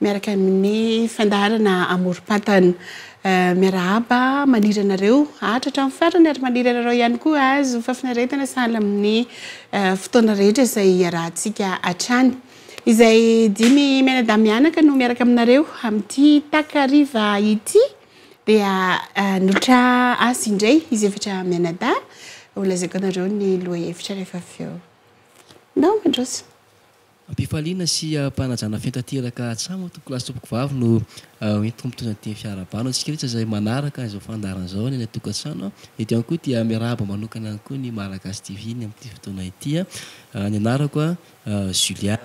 Miaraka amin'ny fandaharana amorom-pantana. Miarahaba, maniry anareo hahatra hatramin'ny farany ary maniry anareo ihany koa hahazo fahafinaretana sahala amin'ny fotoana rehetra izay iarahantsika hatrany. Izay dimy mianadahy mianaka no miaraka aminareo amin'ity takariva ity dia nolotra azy indray izy efatra mianadahy. Holazaiko anareo ny lohahevitra rehefa avy eo. Nao mandroso. Am-pifaliana sy am-panajana feno tanteraka hatramo Tompoko lahy sy Tompoko vavy no hoentiko mitondra ny teny fiarahabana ho antsika rehetra izay manaraka izao fandaharana izao any any an-tokantrano. Eto ihany koa dia miarahaba manokana ihany koa ny Malagasy TV ny amin'ity fotoana ity. Ny anarako Julia.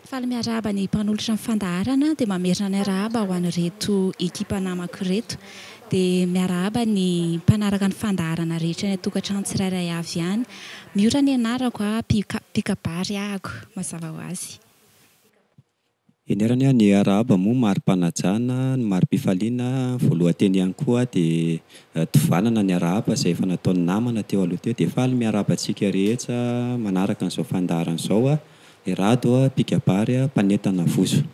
Faly miarahaba ny mpanolotra ny fandaharana dia mamerina ny arahaba ho an'ireto ekipa namako ireto. dia miarahaba ny mpanaraka ny fandaharana rehetra any an-tokantrano tsirairay avy any. Miora ny anarako a! Mpikabary ahako, mazava ho azy. Eny ary anie ny arahaba moa mari-panajana, ny mari-pifaliana, ny voalohan-teny ihany koa dia tovanana ny arahaba izay efa nataon'ny namana teo aloha teo. Dia faly miarahaba antsika rehetra manaraka an'izao fandaharana izao aho, i Rado, mpikabary, mpanentana vozo.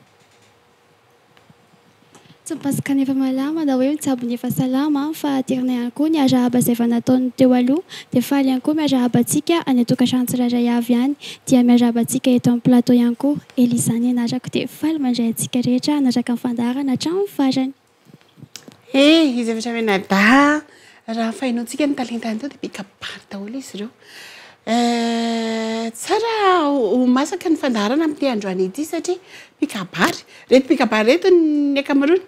Tsy mipasoka ny efa malama na hoe mitsabo ny efa salama an, fa aterina ihany koa ny arahaba izay efa nataon'ny teo aloha, dia faly ihany koa miarahaba antsika any an-tokantrano tsirairay avy any, dia miarahaba antsika eto amin'ny plateau ihany koa. Elisa nianarako dia faly mandray antsika rehetra hanaraka ny fandaharana hatramin'ny farany. Hey, izy avy hatrany Canada, raha fahenontsika ny talentany tao dia be kabary daholo izy ireo. Eh, tsara ho masaka ny fandaharana amin'ity androany ity satria mpikabary, ireto mpikabary ireto ny ankamaroany,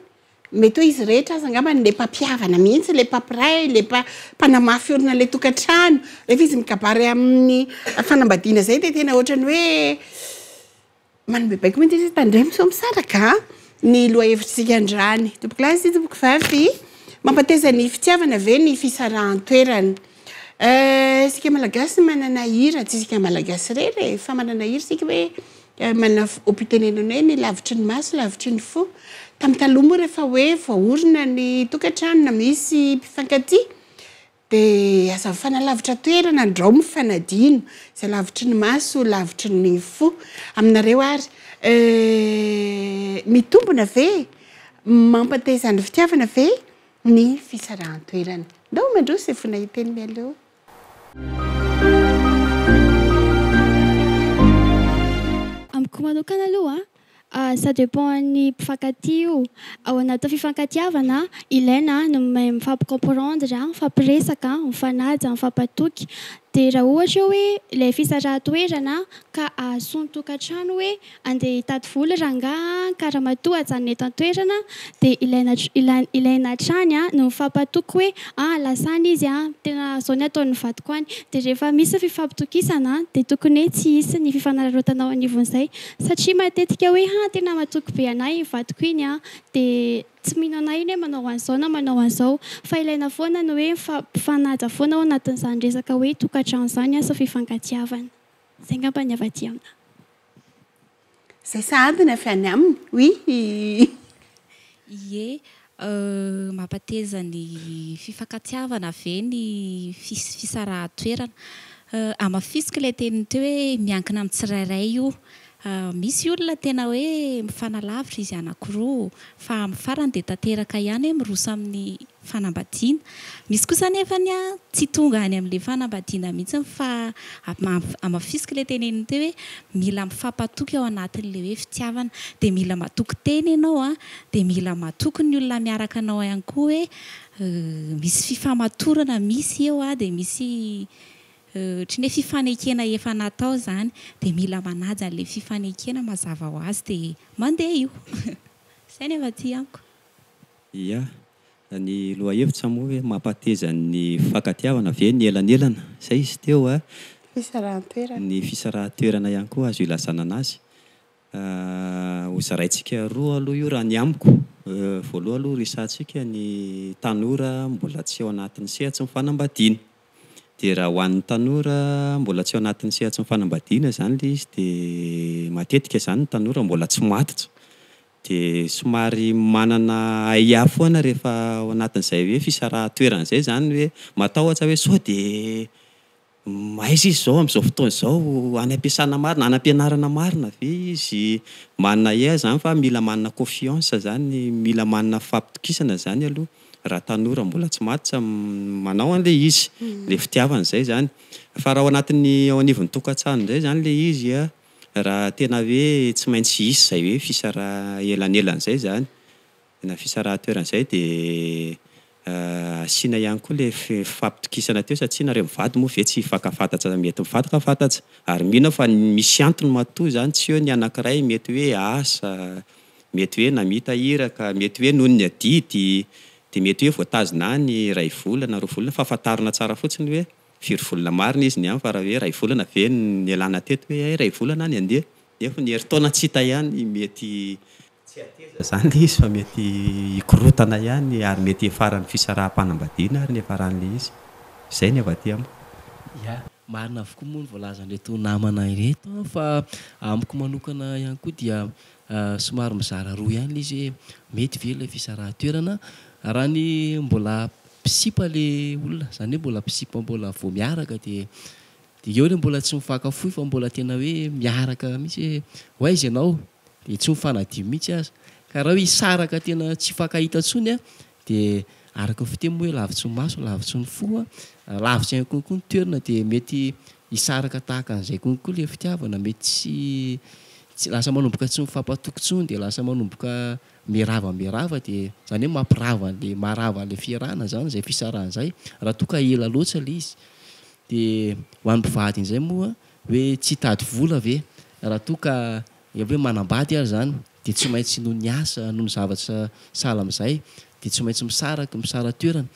mety hoe izy rehetra aza angamba ilay mpampihavana mihitsy, ilay mpampiray, ilay mpa- mpanamafy orina ilay tokantrano. Rehefa izy mikabary amin'ny fanambadiana izay dia tena ohatran'ny hoe, Manome baiko mihitsy izy tandremo sao misaraka ny lohahevitritsika androany. Tompoko lahy sy tompoko vavy, mampateza ny fitiavana ve ny fisarahan-toerana? Euh, isika Malagasy manana hira, tsy isika Malagasy irery e, fa manana hira isika hoe manana fompiam-pitenenana hoe ny lavitry ny maso, lavitry ny fo. Tamin'ny taloha moa rehefa hoe voaorina ny tokantrano na misy mpifankatia, Dia aza mifanalavitra toerana ndrao mifanadino izay lavitry ny maso lavitry ny fo aminareo ary eh mitombona ve mampateza ny fitiavana ve ny fisarahan-toerana ndao mandroso e fona hiteny mialoha. Amiko manokana aloha Ah ça dépend an'ny mpifankatia io. Ao anatin'ny fifankatiavana ilaina ny mahay mifampi-comprendre, mifampiresaka, mifanaja, mifampatoky. Dia raha ohatra eo hoe ilay fisarahan-toerana ka ahasoa ny tokantrano hoe andeha hitady vola rangahy an, ka ramatoa ajanona eto an-toerana dia ilaina ilaina ilaina hatrany ny mifampatoky hoe an lasa any izy an, tena izao ny ataon'ny vadiko any. Dia rehefa misy ny fifampitokisana dia tokony hoe tsy hisy ny fifanararaotana ao anivon'izay. Satria matetika hoe ha tena matoky be anah iny vadiko iny an! dia tsy mino anah iny hoe manao an'izao na manao an'izao. Fa ilaina foana ny hoe mifanaja foana ao anatin'izany resaka hoe tokantrano izany asa fifankatiavana. Izay angamba ny avy aty aminah. Izay sahady ny avy any aminy. Oui! Ie. Mampateza ny fifankatiavana ve ny fisarahan-toerana? Hamafisiko ilay teniny teo hoe miankina amin'ny tsirairay io. Misy olona tena hoe mifanalavitra izy anankiroa, fa amin'ny farany dia tanteraka ihany hoe miroso amin'ny fanambadiana. Misy kosa anefa tsy tonga any amin'ilay fanambadiana mihitsy fa hamafisiko ilay teneniny teo hoe mila mifampatoky ao anatin'ilay hoe fitiavana. Dia mila matoky tena ianao Dia mila matoky ny olona miaraka anao ihany koa hoe misy fifamatorana misy eo a, dia misy ohatry ny hoe fifanekena efa natao izany, dia mila manaja an'ilay fifanekena mazava ho azy dia mandeha io. Izay ny avy aty amiko. Ia. Ny lohahevitra moa hoe mampahateza ny fifankatiavana ve ny elanelana? Izay izy teo a. Fisarahan-toerana. Ny fisarahan-toerana ihany koa azo ilazana anazy. Ho zaraintsika roa aloha io raha ny amiko. Voalohany aloha resahantsika ny tanora mbola tsy ao anatin'ny sehatry ny fanambadiana. Dia raha ho an'ny tanora mbola tsy ao anatin'ny sehatry ny fanambadiana izany ilay izy dia matetika izany ny tanora mbola tsy matotra. Dia somary manana ahiahy foana rehefa ao anatin'izay hoe fisarahan-toerana izay izany hoe matahotra hoe sao dia Mahaiza izy izao amin'izao fotoana izao any ampiasana marina, any ampianarana marina ve izy? Manana air izany fa mila manana confiance izany, mila manana fahatokisana izany aloha raha tanora mbola tsy maty tsy manao an'ilay izy, ilay fitiavana izay izany. Fa raha ao anatin'ny, ao anivon'ny tokantrano indray izany ilay izy an, raha tena hoe tsy maintsy hisy izay hoe fisaraha elanelana izay izany. Na fisarahan-toerana izay dia asiana ihany koa ilay fifampitokisana teo satria nareo mivady moa ve tsy hifankafantatsa mety mifankafantatsa ary mino aho fa misy antony matoa izany tsy eo ny anankiray mety hoe asa, mety hoe namita iraka, mety hoe noho ny adidy dia mety hoe voatazona any iray volana, roa volana fa fantarina tsara fotsiny hoe firy volana marina izy ny any fa raha hoe iray volana ve no nialana teto hoe hay iray volana any andeha nefa ny herintaona tsy hita ihany mety Tsy hateza izany ilay izy fa mety hikorotana ihany ary mety hiafaran'ny fisaraham-panambadiana ary ny hiafaran'ilay izy. Izay ny avy aty amiko. Ya, marina avokoa moa ny voalazan'ireto namana ireto an, fa amiko manokana ihany koa dia somary mizara roa ihany ilay izy hoe mety ve ilay fisarahan-toerana raha ny mbola mpisipa ilay olona, izany hoe mbola mpisipa mbola vao miaraka dia Dia eo ilay mbola tsy mifankafoy fa mbola tena hoe miaraka mihitsy hoe ho aiza ianao? Dia tsy mifanadio mihitsy aza. Ka raha hoe hisaraka tena tsy hifankahita intsony dia araka ny fiteny moa hoe lavitry ny maso, lavitry ny fo. Lavitra ihany koa koa ny toerana dia mety hisaraka tahaka an'izay koa koa ilay fitiavana. Mety tsy tsy lasa manomboka tsy mifampatoky intsony dia lasa manomboka miarava miarava dia izany hoe mampirava an'ilay maharava an'ilay fiarahana izany izay fisarahana izay raha toa ka ela loatra ilay izy. Dia ho an'ny mpivady indray moa hoe tsy hitady vola ve? Raha toa ka efa hoe manambady ary izany dia tsy maintsy noho ny asa, noho ny zavatra sahala amin'izay dia tsy maintsy misaraka, misara toerana.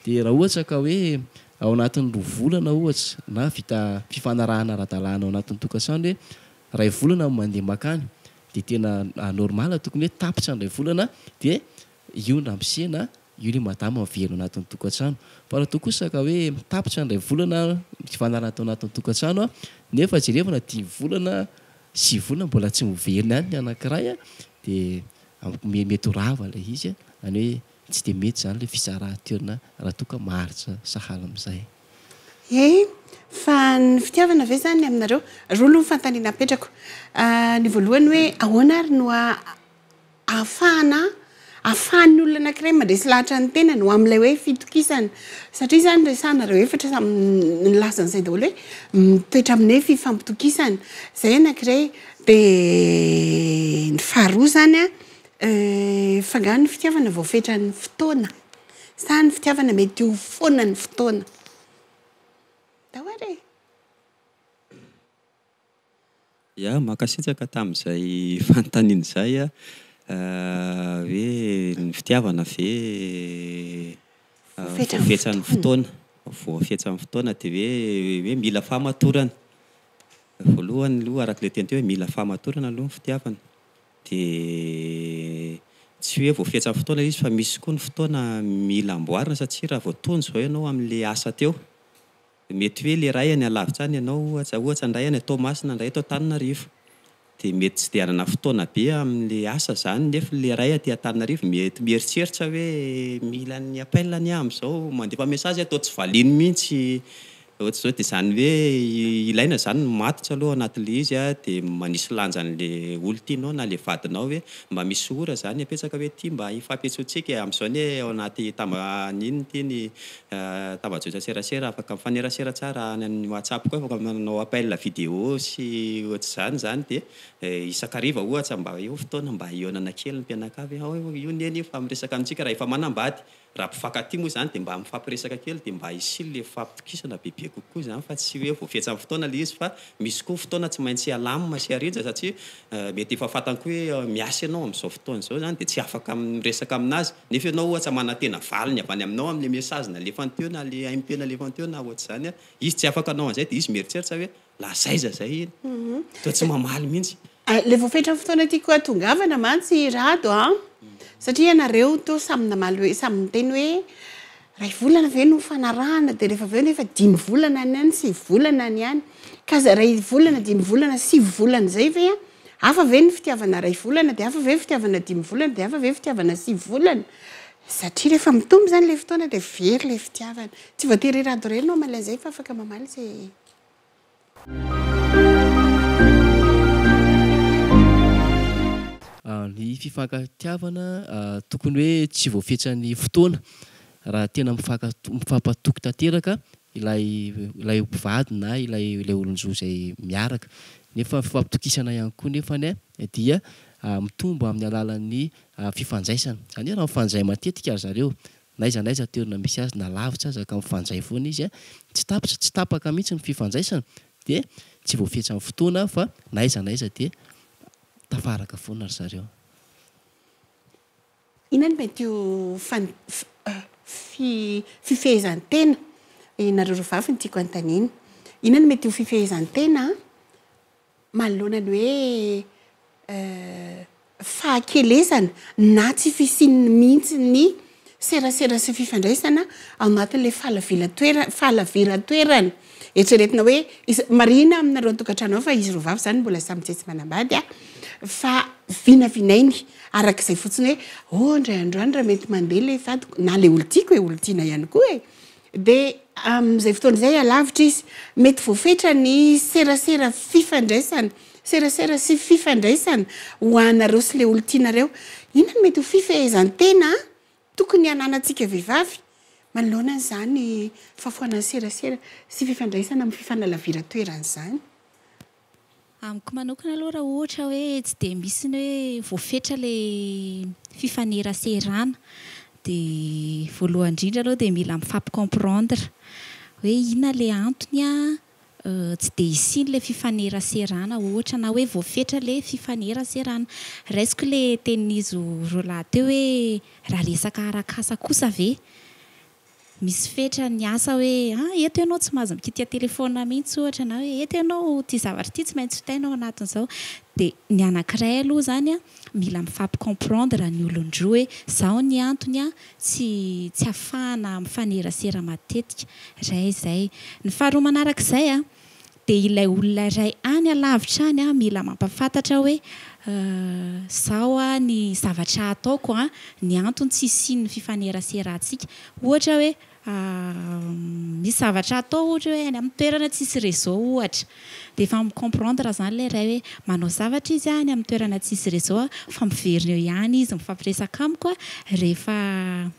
Dia raha ohatra ka hoe ao anatin'ny roa volana ohatra na vita fifanarahana ara-dalàna ao anatin'ny tokantrano hoe iray volana no mandeha mankany dia tena normal tokony hoe tapitra ny iray volana dia io no ramosena Io ilay madama miverina ao anatin'ny tokantrano. Fa raha toa kosa ka hoe mitapitra indray volana nivanarana tao anatin'ny tokantrano nefa jereo na dimy volana, sivy volana mbola tsy miverina ihany ny anankiray dia mety ho rava ilay izy. Izany hoe tsy dia mety izany ilay fitsaran-toerana raha toa ka maharitra sahala amin'izay. Eny, fa ny fitiavana ve izany aminareo? Roa aloha ny fanontaniana apetrako. Ny voalohany hoe ahoana ary no ahafahana ahafahan'ny olona anankiray mandresy lahatra ny tenany ho amin'ilay hoe fitokisana. Satria izany resahanareo efatra samy nilaza an'izay daholo hoe mitoetra amin'ny hoe fifampitokisana. Izay anankiray. Dia ny faharoa izany an, fa angaha ny fitiavana voafetran'ny fotoana? Sa ny fitiavana mety ho foana ny fotoana? Tawari e! Ya, mankasitraka tamin'izay fanontaniana izay a. Hoe ny fitiavana ve voafetran'ny fotoana, voafetran'ny fotoana dia hoe hoe mila fahamatorana. Voalohany aloha araka ilay teny teo hoe mila fahamatorana aloha ny fitiavana. Dia tsy hoe voafetran'ny fotoana ilay izy fa misy koa ny fotoana mila amboarina satria raha vao tony izao ianao amin'ilay asa teo Mety hoe le ray any alavitra any ianao ohatra, ohatra ny ray any Toamasina, ny ray eto Antananarivo. Dia mety tsy dia hanana fotoana be amin'ilay asa izany nefa ilay ray aty Antananarivo mety mieritreritra hoe mila ny appel anie aho amin'izao, mandefa message aho toa tsy valiany mihitsy ohatr'izao dia izany hoe ilaina izany ny matotra aloha anatin'ilay izy a, dia manisy lanja an'ilay olona tianao na ilay vadinao hoe mba misy ora izany apetsaka hoe ity mba hifampihetsontsika amin'izao anie ao anaty tamba an'inona ity ny Tava-jotra serasera afaka mifanerasera tsara any amin'ny WhatsApp koa afaka manao appel video sy ohatr'izany izany dia isan-kariva ohatra mba eo fotoana mba hihaonana kely ny mpianakavy hoe aoa io neny io fa miresaka amintsika raha efa manambady raha mpifankatia moa izany dia mba mifampiresaka kely dia mba hisy ilay fifampitokisana bebe kokoa izany fa tsy hoe voafetsan'ny fotoana ilay izy fa misy koa fotoana tsy maintsy alamina sy arija satria mety efa fantany koa hoe miasa ianao amin'izao fotoana izao izany dia tsy afaka miresaka aminazy Nefa ianao ohatra manantena valiny avy any aminao amle message nalefany teo na le MP nalefany teo na ohatra zany izy tsy afaka hanao anzay de izy mieritreritra hoe la zaiza zay iny toa tsy mamaly mintsy. Le voafetra fotoana tiako hatongavana mantsy Rado a! satria ianareo toa samy namaly hoe samy niteny hoe ray volana ve no fanarahana de refa avy eo nefa dimy volana any any sivy volana any any ka za ray volana dimy volana sivy volana zay ve Hafa ve ny fitiavana iray volana, dia hafa ve ny fitiavana dimy volana, dia hafa ve ny fitiavana sivy volana? Satria rehefa mitombo izany ilay fotoana dia very ilay fitiavana. Tsy voatery i Rado irery no hamaly an'izay fa afaka mamaly izay. Ny fifankatiavana tokony hoe tsy voafetsan'ny fotoana. Raha tena mifankatoky tanteraka ilay ilay mpivady na ilay ilay olon-jo izay miaraka nefa fifampitokisana ihany koa nefany dia mitombo amin'ny alalan'ny fifandraisana izany hoe raha mifandray matetika ry zareo n'aiza n'aiza toerana misy azy na lavitra aza ka mifandray foana izy tsy tapitra tsy tapaka mihitsy ny fifandraisana dia tsy voafetran'ny fotoana fa n'aiza n'aiza dia tafaraka foana ry zareo. Inona no mety ho fan fi fifehezan-tena Ianareo roa vavy no tiako hanontaniana. Inona no mety ho fifehezan-tena manoloana ny hoe fahakelezana na tsy fisian'ny mihitsy ny serasera sy fifandraisana ao anatin'ilay fahalavilan-toerana fahalaviran-toerana. Eritreretina hoe iza, marihina aminareo an-tokantrano ao fa izy roa vavy izany mbola samy tsetsy manambady fa vinavinainy araka izay fotsiny hoe oh indray andro any raha mety mandeha ilay vadiko na ilay olon-tiako e, olon-tiana ihany koa e. Dia amin'izay fotoana izay alavitra izy. Mety voafetra ny serasera fifandraisana, serasera sy fifandraisana ho anareo sy ilay olon-tianareo. Inona no mety ho fifehezan-tena Tokony hananantsika vehivavy manoloana an'izany fahafoanan'ny serasera sy fifandraisana amin'ny fifanalaviran-toerana izany? Amiko manokana aloha raha ohatra hoe tsy dia misy ny hoe voafetra ilay fifaneraserana dia voalohany indrindra aloha dia mila mifampi-comprendre hoe inona ilay antony an, Tsy dia hisian' ilay fifaneraserana ohatra na hoe voafetra ilay fifaneraserana. Raisiko ilay tenin'izy roa lahy teo hoe raha resaka arak'asa kosa ve misy fetra ny asa hoe ah eto ianao tsy mahazo mikitika telefaonina mihitsy ohatra na hoe eto ianao ity zavatra ity tsy maintsy vitaina ao anatin'izao. Dia ny anankiray aloha izany mila mifampi-comprendre ny olon-droa hoe izao ny antony ah, tsy tsy afahana mifanerasera matetika ray izay. Ny faharoa manarak'izay dia ilay olona iray any alavitra any mila mampafantatra hoe zao ny zavatra ataoko ny antony tsy hisian'ny fifaneraserantsika ohatra hoe misy zavatra atao ohatra hoe any amin'ny toerana tsisy réseau ohatra Dia efa mi comprendre zany ilay ray hoe manao zavatra izy any amin'ny toerana tsisy réseau aho fa miverina eo ihany izy mifampiresaka amiko rehefa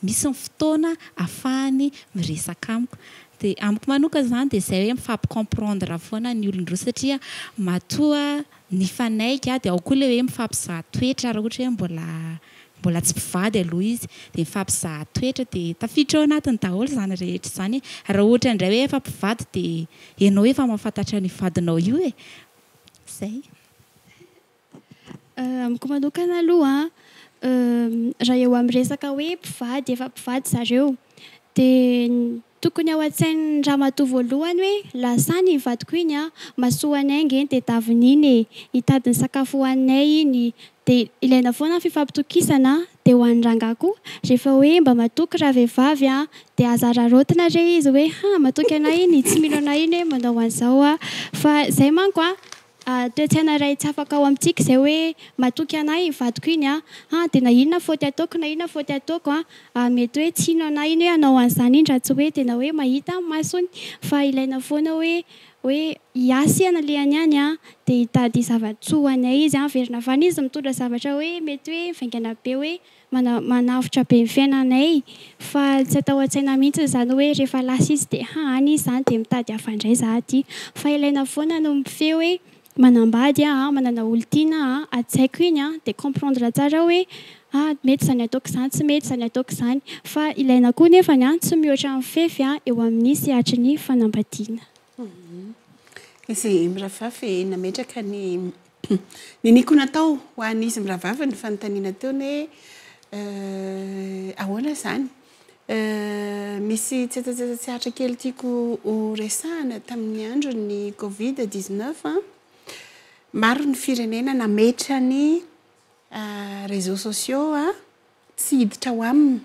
misy ny fotoana afahany miresaka amiko. Dia amiko manokana izany dia izay hoe mifampi comprendre foana ny olon-droa satria matoa nifanaiky dia ao koa ilay hoe mifampizaha toetra raha ohatra hoe mbola Mbola tsy mpivady aloha izy dia mifampizaha toetra dia tafiditra ao anatiny daholo izany rehetra izany e! Raha ohatra indray hoe efa mpivady dia ianao efa mahafantatra an'io vadinao io e! Izay. Amiko manokana aloha an, raha eo amin'ny resaka hoe mpivady, efa mpivady zareo dia ny. Tokony ao an-tsain'ny ramatoa voalohany hoe lasa any iny vadiko iny an! Masoany ainga eny dia taviny iny e! Hitady ny sakafo hohaninay iny! Dia ilaina foana ny fifampitokisana an! Dia ho an'ny rangahy koa, rehefa hoe mba matoky ravehivavy an! Dia aza araraotina re izy hoe ha! matoky anay iny, tsy mino anay iny hoe manao an'izao an! Fa izay manko an! Toe-tsaina iray tsy afaka ao amintsika izay hoe, matoky anay iny vadiko iny an! an! dia na inona faute ataoko na inona faute ataoko an! an! mety hoe tsy hino anay iny hoe hanao an'izany iny raha tsy hoe tena hoe mahita amin'ny masony fa ilaina foana hoe hoe hiasa i analehany any an! dia hitady zava-tsoa ho anay izy an! averina avy any izy mitondra zavatra hoe mety hoe mivaingana be hoe manavotra be ny fiainanay fa tsy atao an-tsaina mihitsy izany hoe rehefa lasa izy dia ha any izy izany dia mitady hafa indray za aty fa ilaina foana ny mifehy hoe manambady aho a, manana olon-tiana aho a, hajaiko iny a dia comprendre tsara hoe ha mety izany ataoko izany, tsy mety izany ataoko izany fa ilaina koa nefany a tsy mihoatra ny fefy a eo amin'ny sehatry ny fanambadiana. Izy mirahavavy nametraka ny niniako natao ho an'izy mirahavavy ny fanontaniana ataony hoe ahoana izany? Misy tsetsatsetsa-tsehatra kely tiako horesahana tamin'ny andron'ny covid 19 a. Maro ny firenena nametra ny réseaux sociaux Tsy hiditra ao aminy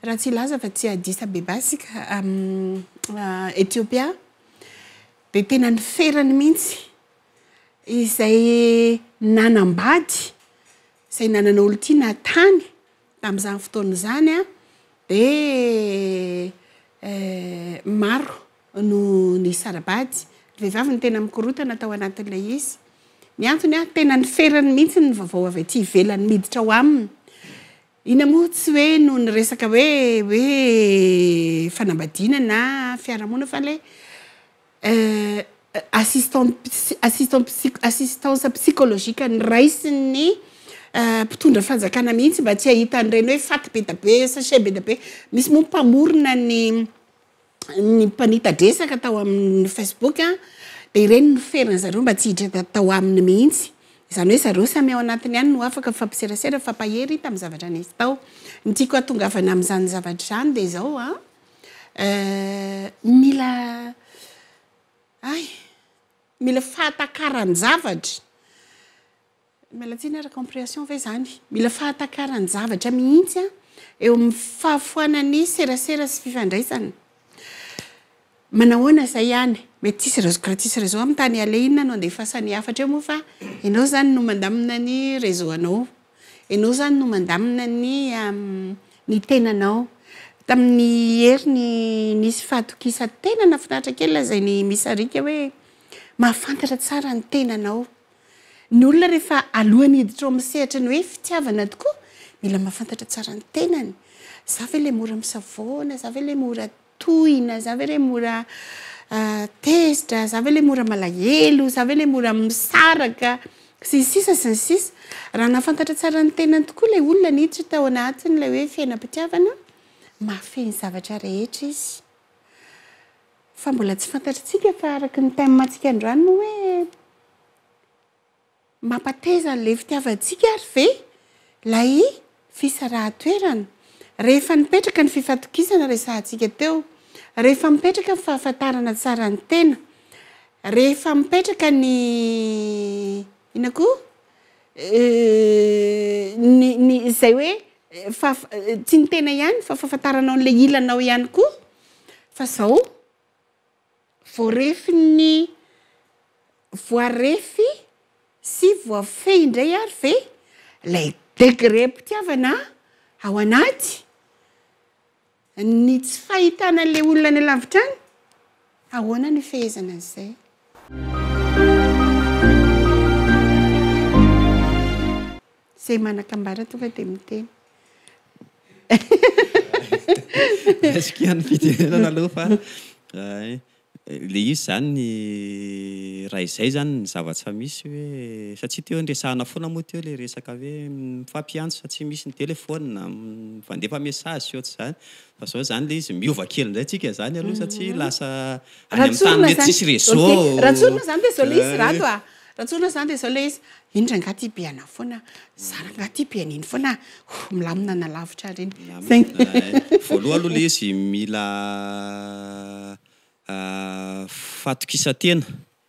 raha tsy hilaza fa tsy Addis Abeba isika amin'i Ethiopia, dia tena ny ferany mihitsy izay nanambady, izay nanana olon-tiana tany tamin'izany fotoana izany dia maro. no nisara-bady. Ry vehivavy no tena mikorotana tao anatin'ilay izy. Ny antony an, tena ny ferany mihitsy ny vaovao avy aty ivelany miditra ao aminy. Ina moa tsy hoe noho ny resaka hoe hoe fanambadiana na fiarahamonina fa ilay assistante assistante assistance psychologique noraisin'ny mpitondra fanjakana mihitsy mba tsy hahita an'ireny hoe faty be dia be, sachet be dia be. Misy moa ny mpamorona ny. ny mpanita-dresaka tao amin'ny Facebook dia ireny no ferany zareo mba tsy hiditra tao aminy mihitsy. Izany hoe zareo samy ao anatiny ihany no afaka mifampiserasera, mifampahery hita amin'ny zavatra nisy tao. Ny tiako hatongavana amin'izany zavatra izany dia izao an, mila hay, mila fahatakaran-javatra. Miala tsiny ary comprehension ve zany? Mila fahatakaran javatra mihitsy an eo amin'ny fahafoana ny serasera sy fifandraisana. Manahoana izay any? Mety tsisy reseau gratis reseau amin'ny tany aleha inona no andefasan'ny hafatra eo moa fa ianao izany no mandamina ny reseau anao. Ianao izany no mandamina ny ny tenanao. Tamin'ny heriny nisy fahatokisan tena nahafinaritra kely lazain'i Miss Arika hoe mahafantatra tsara ny tenanao. Ny olona rehefa alohan'ny hiditra ao amin'ny sehatry ny hoe fitiavana tokoa, mila mahafantatra tsara ny tenany. Za ve ilay mora misavoana? Za ve ilay mora tohina? Za ve ilay mora tezitra? Za ve ilay mora malahelo? Za ve ilay mora misaraka? Sy ny sisa sy ny sisa. Raha nahafantatra tsara ny tenany tokoa ilay olona niditra tao anatin'ilay hoe fiainam-pitiavana, mahafehy ny zavatra rehetra izy. Fa mbola tsy fantatritsika fa araka ny thème ntsika androany moa hoe mampateza an'ilay fitiavantsika ary ve ilay fisarahan-toerana? Rehefa nipetraka ny fifatokisana resahantsika teo, rehefa mipetraka ny fahafantarana tsara ny tena, rehefa mipetraka ny inona koa? ny ny izay hoe Fa tsy ny tena ihany fa fahafantaranao an'ilay ilanao ihany koa fa zao voarefin'ny voarefy sy voafehy indray ary ve lay degré mpitiavana ao anaty Ny tsy fahitana an'ilay olona any alavitra any? Ahoana no hifehezana an'izay? Izay manan-kambara tonga dia miteny. Raisiko ihany ny fijerena aloha fa. Le izy zany ny ray zay zany ny zava tsa misy hoe satsia teo niresahana fona moa teo le resaka hoe mifampiantso fa tsy misy ny telephone mifandefa message sy otrzany fa zao zany le izy miova kely ndray tsika zany aloha satsia lasa any am tany mety tsisy reseau ok Ratsorina zany de zao le izy Rado a Ratsorina zany de zao le izy Eny rangah ty be anah foana ah. Za rangah ty be an'iny foana ah. Oh milamina na lavitra ary iny. Milamina eh. Voaloha aloha le izy mila fatokisantena.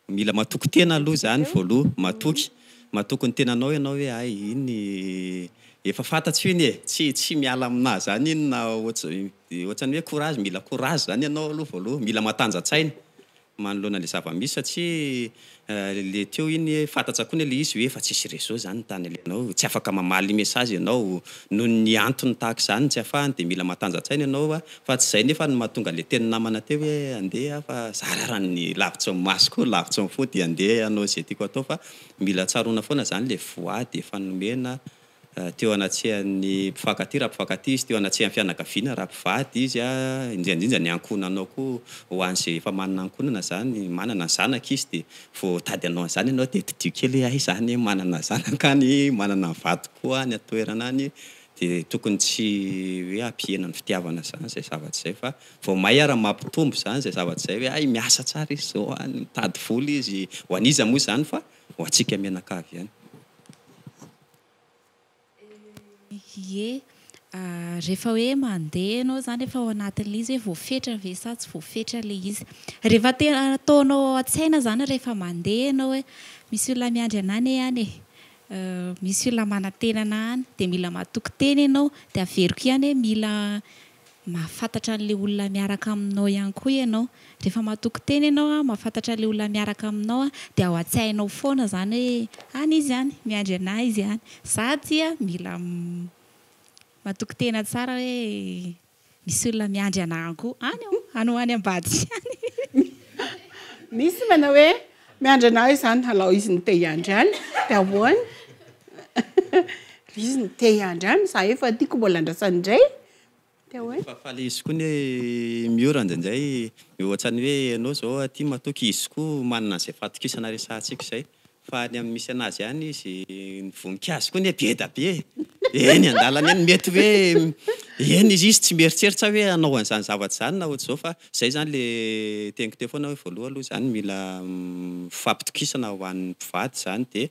Mila matoky tena aloha zany voaloha. Matoky, matoky ny tenanao ianao hoe hay iny efa fantatro iny eh. Tsy, tsy miala aminah zany iny na ohatry, ohatrany hoe courage, mila courage zany ianao aloha voaloha. Mila matanja-tsaina. manoloana ilay zava-misy satria ilay teo iny fantatsa koa ny ilay izy hoe efa tsisy réseau izany ny tany alehanao, tsy afaka mamaly message ianao noho ny antony tahaka izany ny tsy afahany dia mila matanja-tsaina ianao fa tsy izay nefa no mahatonga ilay teny namana teo hoe andeha aho fa za rarany ny lavitry ny maso koa lavitry ny fo dia andeha hanao izay tiako hatao fa mila tsaroana foana izany ilay voady efa nomena teo anatrehan'ny mpifankatia raha mpifankatia izy, teo anatrehan'ny fianakaviana raha mpivady izy, indrindra indrindra ny ankohonanao koa, ho an'izay efa manana ankohonana izany, manana ny zanaka izy dia vao tady anao an'izany ianao dia tadidio kely hoe hay izaho anie manana zanaka any, manana ny vadiko koa any an-toerana any, dia tokony tsy hoe hampihena ny fitiavana izany izay zavatra izay fa vao may ary mampitombo izany izay zavatra izay hoe hay miasa tsara izy izao any, mitady vola izy, ho an'iza moa izany fa ho antsika mianakavy ihany. Ie, rehefa hoe mandeha ianao izany efa ao anatin'ilay izy hoe voafetra ve sa tsy voafetra ilay izy. Rehefa tena ataonao ao an-tsaina izany rehefa mandeha ianao hoe misy olona miandry anà anie any e, misy olona manantena anà any, dia mila matoky tena ianao, dia averiko ihany hoe mila Mahafantatra an'ilay olona miaraka aminao ihany koa ianao. Rehefa matoky tena ianao an, mahafantatra an'ilay olona miaraka aminao an, dia ao an-tsainao foana izany hoe any izy any, miandry anà izy any. Za dia mila matoky tena tsara hoe misy olona miandry anà ihany koa any aho, any ho any ambadika any. Misy manao hoe miandry anà izy any, alao izy no te hiandry any, dia ahoana? Ilay izy no te hiandry any, za efa tiako mbola andrasana indray. Efa faly izy koa ny hoe Miora indraindray dia ohatrany hoe ianao izao aty matoky izy koa manana an'izay fahatokisana resahantsika izay fa any amin'ny misy an'azy ihany izy ny voninkazo koa anie be da be e! eny an-dalana eny mety hoe eny izy tsy mieritreritra hoe hanao an'izany zavatra izany na ohatr'izao fa izay izany ilay teniko teo foana hoe voaloha aloha izany mila fampitokisana ho an'ny mpivady izany dia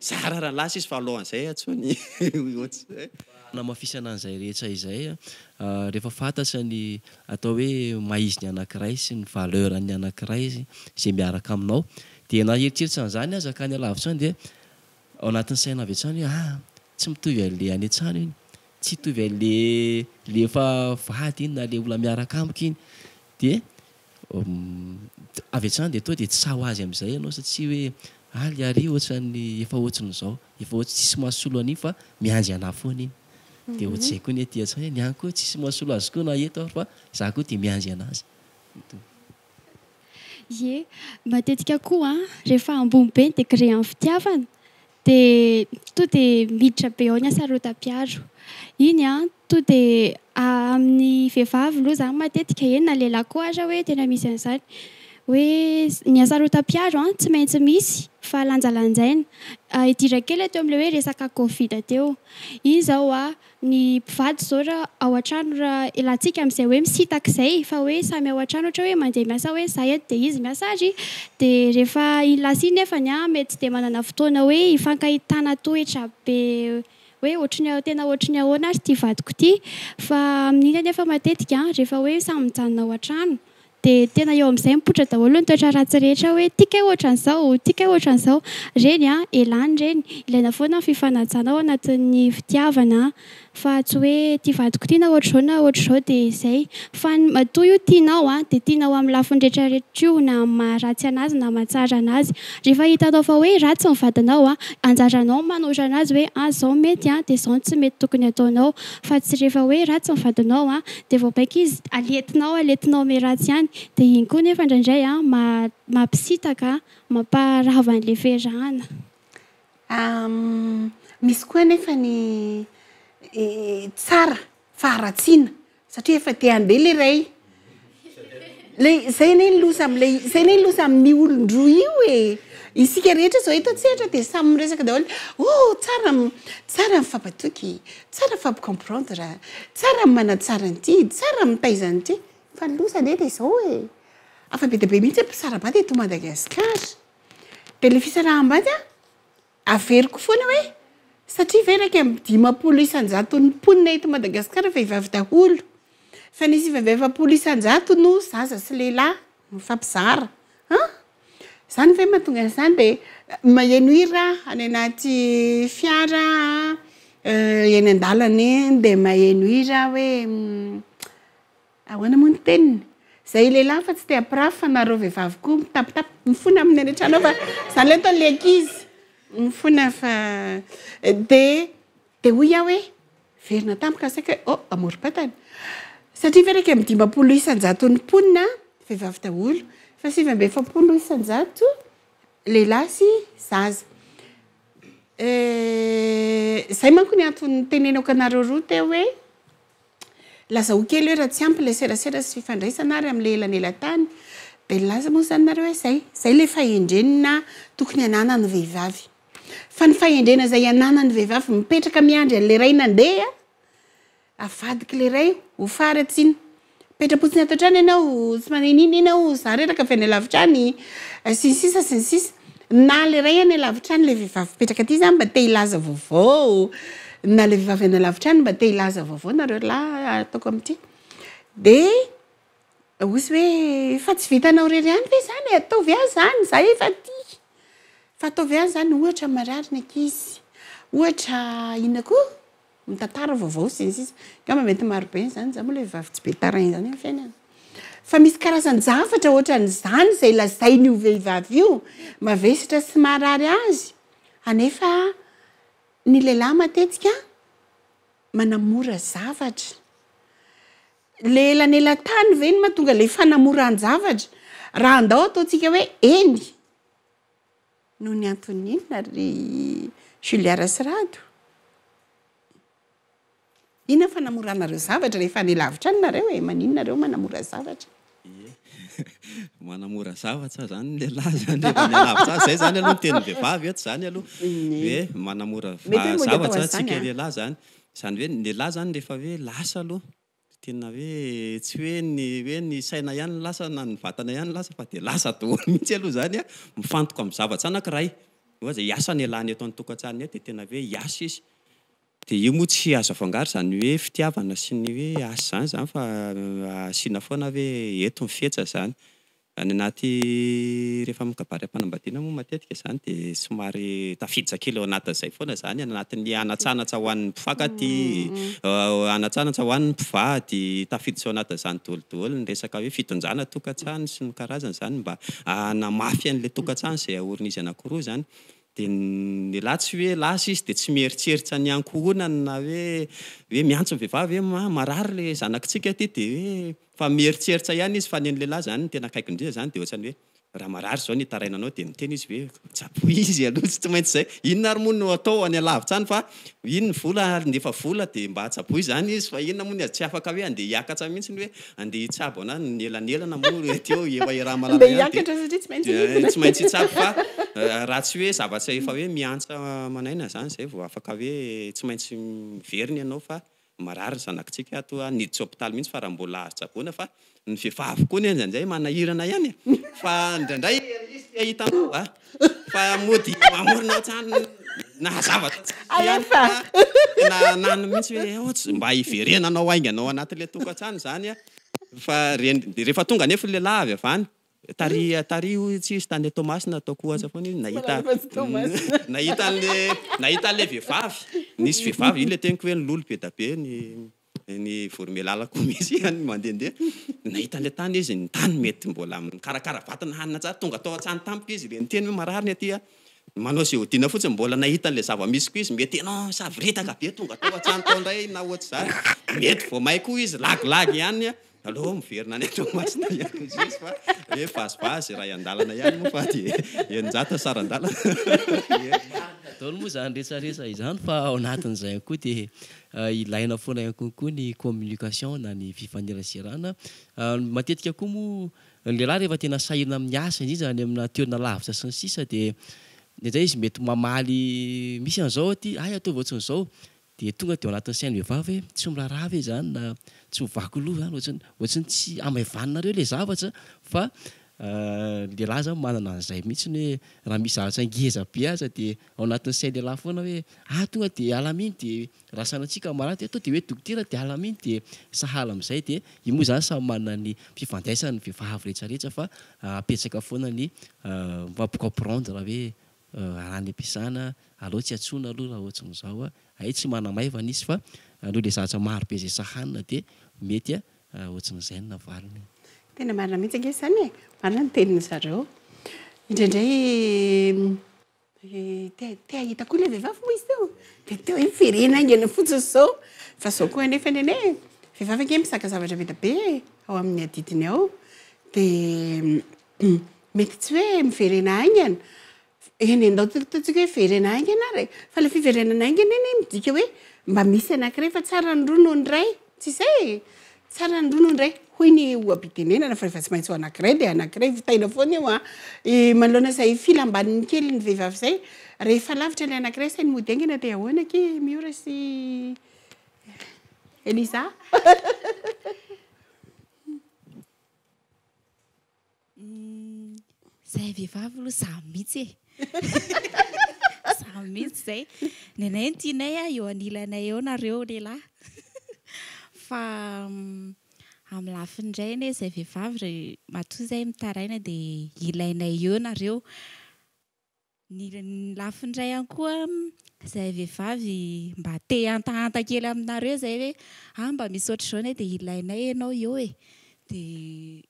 Zara raha lasa izy fa alohan'izay antsoiny hoe. Fanamafisana an'izay rehetra izay, rehefa fantatra ny atao hoe maha izy ny anankiray sy ny valeur an'ny anankiray izay miaraka aminao dia na hieritreritra an'izany aza ka any alavitra any dia ao anatin'ny saina avy hatrany hoe ah! tsy mitovy an'ilay any an-trano iny, tsy hitovy an'ilay ilay efa vady iny na ilay olona miaraka amiko iny dia. Humm avy hatrany dia toa dia tsy sahy ho azy amin'izay ianao satsia hoe aly ary io ohatran'ny efa ohatrin'izao efa ohatry tsisy mahasolo an'iny fa miandry anah foana iny dia ohatr'izay koa ny aty hatrany hoe ny ahy koa tsisy mahasolo azy koa na eto ary fa zah koa dia miandry anazy toa. Ie, matetika koa rehefa ambony be ny degré an'ny fitiavana Dia to dia miditra be ao ny asarotam-piaro. Iny an, to dia amin'ny vehivavy loha izany matetika eny na lehilahy koa aza hoe tena misy an'izany. Hoe ny asarotam-piaro an, tsy maintsy misy fa lanjalanjaina. Hidira kely aho teo amin'ilay hoe resaka covid teo. Iny izao an. ny mpivady zao ra ao an-trano ra ilantsika amin'izay hoe misintaka izay fa hoe samy ao an-trano ohatra hoe mandeha miasa hoe za eto dia izy miasa ary de rehefa iny lasa iny nefany an mety tsy dia manana fotoana hoe hifankahitana toetra be hoe ohatry ny tena ohatry ny ahoana ary ity vadiko ity fa amin'iny anefa matetika rehefa hoe samy mijanona ao an-trano Dia tena eo amin'izay mipoitra daholo ny toetra ratsy rehetra hoe tia kay ohatran'izao, tia kay ohatran'izao. Reny an, elany reny. Ilaina foana ny fifanajana ao anatin'ny fitiavana fa tsy hoe ity vadiko ity na ohatr'izao na ohatr'izao dia izay. Fa ny matoa io tianao an, dia tianao amin'ny lafiny rehetra rehetra io na amin'ny maha ratsy anazy na mahatsara anazy. Rehefa hitanao fa hoe ratsy ny vadinao an, anjaranao ny manohitra anazy hoe an izao mety an, dia izao no tsy mety tokony hataonao. Fa tsy rehefa hoe ratsy ny vadinao an, dia vao baika izy alentina ao alentina ao amy ratsy ihany dia iny koa nefa indraindray an mampisitaka mamparava anle fiarahana. Misy koa anefa ny tsara faharatsiana satria efa te handeha ilay iray le zay anie ny loza amle zay anie ny loza amin'ny olon-droa io e! isika rehetra zao eto an-tsehatra dia samy miresaka daholo oh tsara tsara ny mifapatoky Tsara fa micomprendre, tsara ny manatsara an'ity, tsara ny mitaiza an'ity, fa ny loza anie dia izao e! Afa be dia be mihitsy ny mpisara-bady eto Madagasikara. Dia ilay fisaraham-bady an, averiko foana hoe, satria ve iraika amby dimampolo isan-jaton'ny mponina eto Madagasikara vehivavy daholo, fa ny sivy amby efapolo isan-jato no zaza sy lehilahy mifampizara, an! Izany ve mahatonga an'izany dia maheno hira any anaty fiara eny an-dalana eny dia maheno hira aho hoe ahoana moa ny teniny? Izay lehilahy efa tsy te hampirafy fa na ireo vehivavy koa mitapitapy mifona amin'ny any an-trano ao fa izany ilay ataon'ilay ankizy mifona fa dia Dia hoy aho hoe, Niverina tampoka saika hoe, Oh, amorom-patana. Satria ve iraika amby dimampolo isan-jaton'ny mponina vehivavy daholo, fa sivy amby efapolo isan-jato lehilahy sy zaza. Eh, izay manko ny antony nitenenako anareo roa teo hoe, Lazao kely hoe raha tsy ampy ilay serasera sy fifandraisana ary amin'ilay elanelan-tany dia nilaza moa izany nareo hoe izay, izay ilay fahendrena tokony ananan'ny vehivavy. Fa ny fahendrena izay ananan'ny vehivavy mipetraka miandry an'ilay ray nandeha avadika ilay ray ho faharatsiana. Mipetra-potsiny ato an-trano ianao, tsy manao inona inona ianao, izaho reraka avy any alavitra any, sy ny sisa sy ny sisa. Nala iray any alavitra any ilay vehivavy mipetraka aty za mba te hilaza vaovao na ilay vehivavy any alavitra any mba te hilaza vaovao nareo lahy ataoko amin'ity dia ozy hoe efa tsy vitanao irery ihany ve izany e ataovy ahy izany za efa tia fa ataovy ahy izany ohatra marary ny ankizy ohatra inona koa mitantara vaovao sy ny sisa angamba mety marobe izany, za moa le vavy tsy be tarain izany amin'ny fiainana fa misy karazan javatra ohatran izany izay lazain io vehivavy io mavesatra sy maharary azy anefa ny lehilahy matetika manamora zavatra le elanelatany ve no mahatonga le fanamoran javatra raha andao ataontsika hoe eny Noho ny antony inona ry Julia Rasirado? Inona fanamoranareo zavatra rehefa any lavitra any nareo e? Maninona nareo manamora zavatra? Ie, manamora zavatra zany ny lehilahy zany rehefa any alavitra any, zay zany aloha ny tenin'ny vehivavy eto zany aloha hoe manamora zavatra tsika lehilahy zany, zany hoe ny lehilahy zany rehefa hoe lasa aloha Tena hoe tsy hoe ny hoe ny saina ihany no lasa na ny vatana ihany no lasa fa dia lasa daholo mihitsy aloha izany an! Mifantoka amin'ny zavatra anankiray ohatra izay asa nialany eto an-tokantranonay dia tena hoe hiasa izy dia io moa tsy azo afangaro izany hoe fitiavana sy ny hoe asa izany izany fa asiana foana hoe eto ny fihetsiny izany. Any anaty rehefa amin'ny kabary am-panambadiana moa matetika izany dia somary tafiditra kely ao anatin'izay foana izany any anatin'ny hanatsanatsa ho an'ny mpifankatia, hanatsanatsa ho an'ny mpivady, tafiditra ao anatin'izany doholidolo ny resaka hoe fitondrana tokantrano sy ny karazany izany mba hanamafy an'ilay tokantrano izay aorin'izy anankiroa izany dia ny lahy tsy hoe lasa izy dia tsy mieritreritra ny ankohonany na hoe hoe miantso ny vehivavy hoe marary ilay zanakitsika ity dia hoe Fa mieritsertsa ihany izy fa nen'ny lehilahy izany no tena akaikindriza izany dia ohatrany hoe raha marary izao ny hitaraina anao dia miteny izy hoe tsaboy izy aloha tsy maintsy izay inona ary moa no atao any alavitra any fa iny ny vola handefa vola dia mba tsaboy izany izy fa inona moa ny azy tsy afaka hoe handeha hiakatra mihintsy ny hoe handeha hitsabo ana ny elanelana moa hoe ety eo efa Irahamalala ihany dia dia tsy maintsy hitsabo fa raha tsy hoe zavatra efa hoe miantsa aman'aina izany izay vao afaka hoe tsy maintsy miverina ianao fa Marary ny zanakitsika ato a, niditra hopitaly mihitsy fa raha mbola azo tsaboina fa ny vehivavy koa anie ndraindray manahirana ihany e! fa ndraindray ery izy te ahita anao a! fa mody mamorona hatrany na zavatra tsy misy ihany fa tena ananiny mihitsy hoe aoa tsy mba hiverenanao haingana ao anatin'ilay tokantrano izany a! fa reny, dia rehefa tonga anefa ny lehilahy avy avy any Tariha tariha hoy tsy hisy tany Toamasina ataoko ho aza foana izy nahita nahita anle nahita anle vehivavy nisy vehivavy iny le teniko hoe ny lolo be da be ny ny voromelala koa misy ihany mandehandeha nahita anle tany izy ny tany mety mbola mikarakara vatana hanina tsara tonga tao an-tsany tamiko izy le niteny hoe marary ny aty a manao ze hodiana fotsiny mbola nahita anle zava-misy koa izy mety ianao misavoritaka be tonga tao an-tsany tao indray na ohatr'izany mety vao may koa izy lagilagy ihany a Aleo miverina any Toamasina ihany ny juge fa hoe vazivazy iray an-dalana ihany moa fa dia eninjato sara-dalana. Daholo moa izany resaresa izany fa ao anatin'izay ihany koa dia ilaina foana ihany koa koa ny communication na ny fifaneraserana. Matetika koa moa ny lehilahy rehefa tena sahirana amin'ny asa indrindra any amina toerana lavitra sy ny sisa dia indraindray izy mety mamaly misy an'izao aty, hay ataovy ohatran'izao Dia tonga dia ao anatin'ny sain'ny vehivavy hoe tsy miraharaha ve izany na tsy mivaky loha izany ohatry ny ohatry ny tsy hamaivaninareo ilay zavatra fa ny lehilahy izany manana an'izay mihitsy hoe raha misy zavatra ngeza be aza dia ao anatin'ny sain'ny lehilahy foana hoe ah tonga dia hiala amin'iny dia raha sanatria kamarady dia tonga dia hoe dokotera dia hiala amin'iny dia sahala amin'izay dia io moa izany samy manana ny fifandraisany ny vehivavy rehetra rehetra fa apetraka foana ny mi-comprendre hoe Raha ny mpizana aleo tsy antsoina aloha raha ohatrin'izao a! Hay tsy manamaivana izy fa noho ilay zavatra maro be izay sahanina dia mety ohatrin'izay ny navaliny. Tena marina mihitsy ange izany e! Marina ny tenin-dry zareo. Indraindray te te hahita koa ilay vehivavy moa izy teo dia teo hoe ferena haingana fotsiny izao. Fa izao koa anefa ny anay e! Vehivavy ange mizaka zavatra be dia be e! Ao amin'ny adidiny ao dia. Humm mety tsy hoe miverena haingana eny e, ndao tokotokotiko hoe verena haingana ary e, fa ilay fiverenana haingana anie midika hoe mba misy anankiray fa tsara ny roa noho ny iray, tsy izay e? tsara ny roa noho ny iray hoy ny oha-pitenenana fa rehefa tsy maintsy ho anankiray dia anankiray, vitaina foana io an! manoloana izay filam-baniny kely ny vehivavy izay, rehefa lavitra ilay anankiray sainy mody haingana dia ahoana akia i Miora sy Eliza? Izahay vehivavy aloha za mihitsy e! Za mihitsy izay. Ny anay ny tianay eo anilanay eo nareo lehilahy. Fa amin'ny lafiny indray anie izahay vehivavy matoa izahay mitaraina dia ilainay eo nareo. Ny lafiny iray ihany koa, izay vehivavy mba te hihantahanta kely aminareo izay hoe ah mba misy ohatr'izao ne dia ilainay ianao eo e. Dia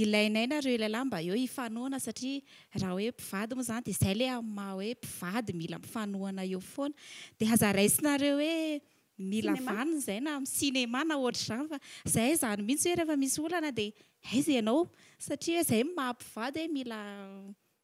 ilainay nareo ilay lahy mba eo hifanohana satria raha hoe mpivady moa izany dia izay ilay amin'ny maha hoe mpivady mila mifanohana eo foana. Dia aza raisinareo hoe. Mila vaniny zay na am cinéma na ohatr'izany fa zay zany mihitsy hoe rehefa misy olana de aiza ianao satria hoe zay no maha mpivady hoe mila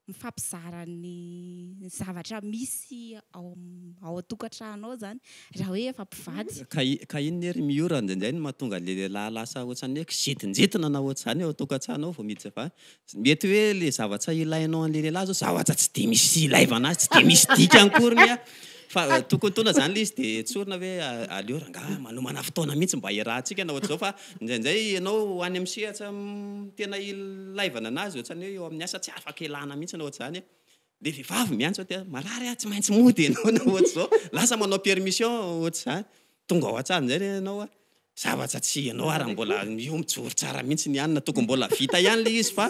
mifampizara ny zavatra misy ao ao an-tokantrano ao zany raha hoe efa mpivady. Ka ka inona ery Miora indraindray no mahatonga an'ilay lehilahy lasa ohatrany hoe kizintinjitina na ohatr'izany ao an-tokantrano ao vao miditra vavy Mety hoe le zavatra ilainao an'le lehilahy zao zavatra tsy de misy ilaivana azy, tsy de misy dikany akoriny a! Fa tokony tona zany le izy de tsorina hoe aleo rangaha manomana fotoana mihitsy mba hiarahantsika na ohatr'izao fa ndraindray ianao any amin'ny sehatra tena ilaivana anazy ohatrany hoe eo amin'ny asa tsy afaka ialana mihitsy na ohatr'izany a! Le vehivavy miantso aty ah, marary ah, tsy maintsy mody enao na ohatr'zao, lasa manao permission ohatr'zany, tonga ao an-tsary amizay re enao ah, zavatra tsy enao ary mbola io mijoro tsara mihitsy ny anona, tokony mbola vita ihany le izy fa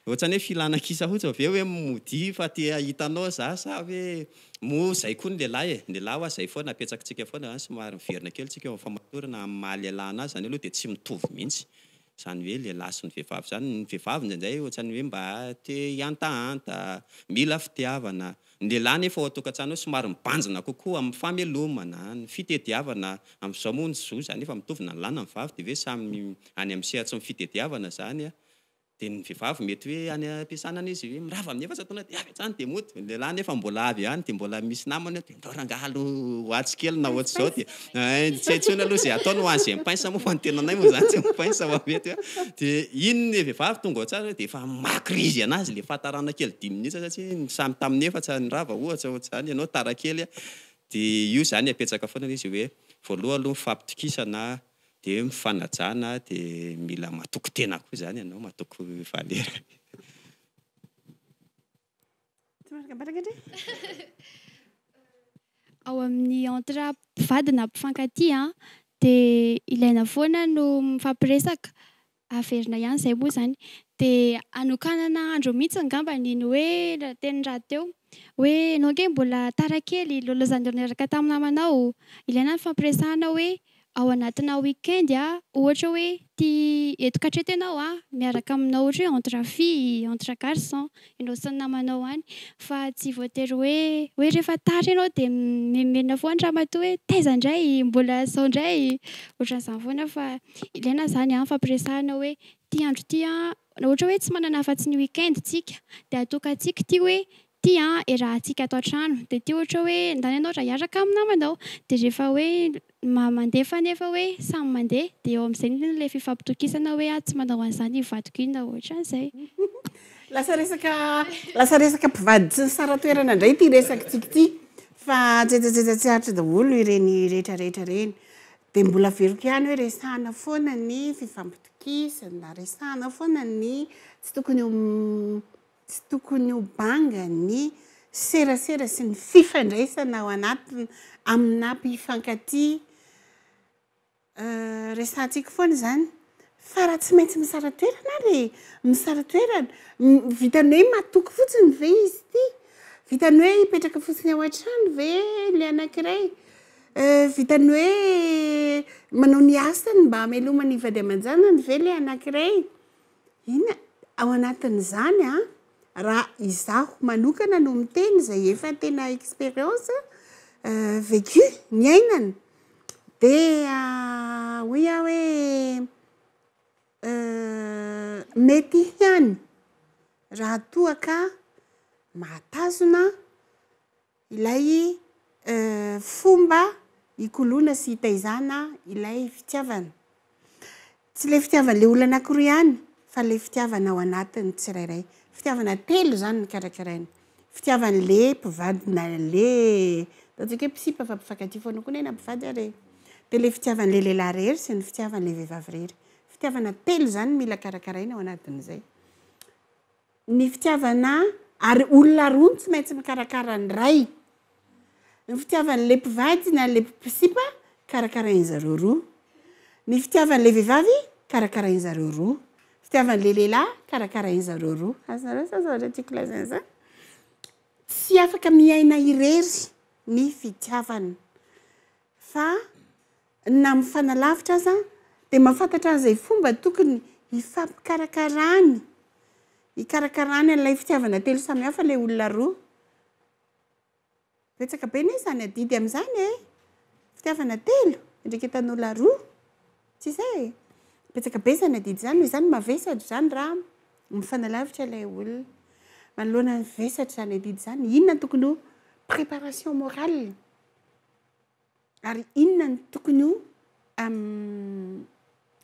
ohatrany hoe filana kisa fotsiny, ve hoe modia fa te ahita anao za sa hoe moa zay koa ny lehilahy e, ny lehilahy oa zay foana apetsakitsika foana zany somary miverina kely tsika eo am famatorana am maha lehilahy anazy, zany aloha de tsy mitovy mihitsy, Izany hoe ilay lahy sy ny vehivavy izany, ny vehivavy indraindray ohatran'ny hoe mba te hihantahanta, mila fitiavana. Ny lehilahy anefa ao an-tokantrano ao somary mibanjina kokoa amin'ny famelomana, ny fitediavana. Amin'izao moa ny zo izany efa mitovy na ny lahy na ny vavy dia ve samy any amin'ny sehatry ny fitediavana izany. Dia ny vehivavy mety hoe any am-piasana any izy hoe mirava amin'i efa isantaona dia avy hatrany dia mody. Ny lehilahy anefa mbola avy any dia mbola misy namany. Ndao rangaha aloha ho atsy kely na ohatr'izao dia hein tsy hay intsony aloha izay ataony ho an'izay mi-pince moa fa ny tenanay moa izany tsy mi-pince fa mety hoe dia iny ilay vehivavy tonga ao an-tsary hoe dia efa makirizy anazy ilay fahatarana kely dimy minitra satria ny samy tamin'ny efatra nirava ohatra ohatr'izany ianao tara kely a dia io izany apetsaka foana ilay izy hoe voaloha aloha mifampitokisana dia eo mifanajana dia mila matoky tena koa izany ianao matoky valera. Ao amin'ny entre mpivady na mpifankatia dia ilaina foana no mifampiresaka, averina ihany izay moa izany. Dia anokanana andro mihitsy angamba ny hoe teny rahateo hoe ianao ange mbola tara kely, lôlôzan'ireo niaraka tamin'ny namanao. Ilaina ny fifampiresahana hoe ao anatina week-end ohatra hoe ty eto katreto ianao a miaraka aminao ohatra hoe entre fille entre garçon ianao sy ny namanao any fa tsy voatery hoe hoe rehefa tara ianao dia mimenomenona foana ramatoa hoe taiza indray mbola sao indray ohatran'izany foana fa ilaina izany a mifampiresahana hoe ty andro ty a ohatra hoe tsy manana afa-tsy ny week-end tsika dia atokantsika ity hoe Ty an e raha atsika ato an-trano dia ty ohatra hoe ndany ianao raha hiaraka amin'ny namanao dia rehefa hoe ma mandefa nefa hoe samy mandeha dia eo amin'izay indrindra ilay fifampitokisana hoe aho tsy manao an'izany io vadiko io na ohatran'izay. Lasa resaka lasa resaka mpivady tsy nisara-toerana indray ity resakitsika ity fa antsetsatsetsatra tsy aritra daholo ireny rehetra rehetra ireny. Dia mbola averiko ihany hoe resahana foana ny fifampitokisana, resahana foana ny tsy tokony ho Tsy tokony ho banga ny serasera sy ny fifandraisana ao anatiny aminà mpifankatia. Resahantsika foana izany. Fa raha tsy maintsy misara toerana ary e! Misara toerana. Vitan'ny hoe matoky fotsiny ve izy ity? Vitan'ny hoe hipetraka fotsiny ao an-trano ve ilay anankiray? Vitan'ny hoe manao ny asany mba hamelomany vady aman-janany ve ilay anankiray? Inona ao anatin'izany an? Raha izaho manokana no miteny izay efa tena expérience vécu, niainana, dia hoy aho hoe mety ihany raha toa ka mahatazona ilay fomba hikoloana sy hitaizana ilay fitiavana. Tsy ilay fitiavan'ilay olona anankiroa ihany, fa ilay fitiavana ao anatin'ny tsirairay. Fitiavana telo izany no karakaraina. Fitiavan'ilay mpivady na ilay, ataontsika hoe mpisipa fa mpifankatia foana koa neina mpivady ary e. Dia ilay fitiavan'ilay lehilahy irery sy ny fitiavan'ilay vehivavy irery. Fitiavana telo izany no mila karakaraina ao anatin'izay. Ny fitiavana ary olona roa no tsy maintsy mikarakara ny ray. Ny fitiavan'ilay mpivady na ilay mpisipa karakarain-dry zareo roa. Ny fitiavan'ilay vehivavy karakarain-dry zareo roa. Fitiavan'ilay lehilahy karakarain-dry zareo roa. Azonareo izany zavatra tiako lazaina izany? Tsy afaka miaina irery ny fitiavana. fa na mifanalavitra aza dia mahafantatra an'izay fomba tokony hifampikarakarany, hikarakarany an'ilay fitiavana telo samihafa ilay olona roa. Betsaka be anie izany adidy amin'izany e! Fitiavana telo, fiandraiketan'olona roa, tsy izay e? Betsaka be izany adidy izany, noho izany mavesatra izany raha mifanalavitra ilay olona. Manoloana ny vesatra izany adidy izany, inona no tokony ho préparation morale? ary inona no tokony ho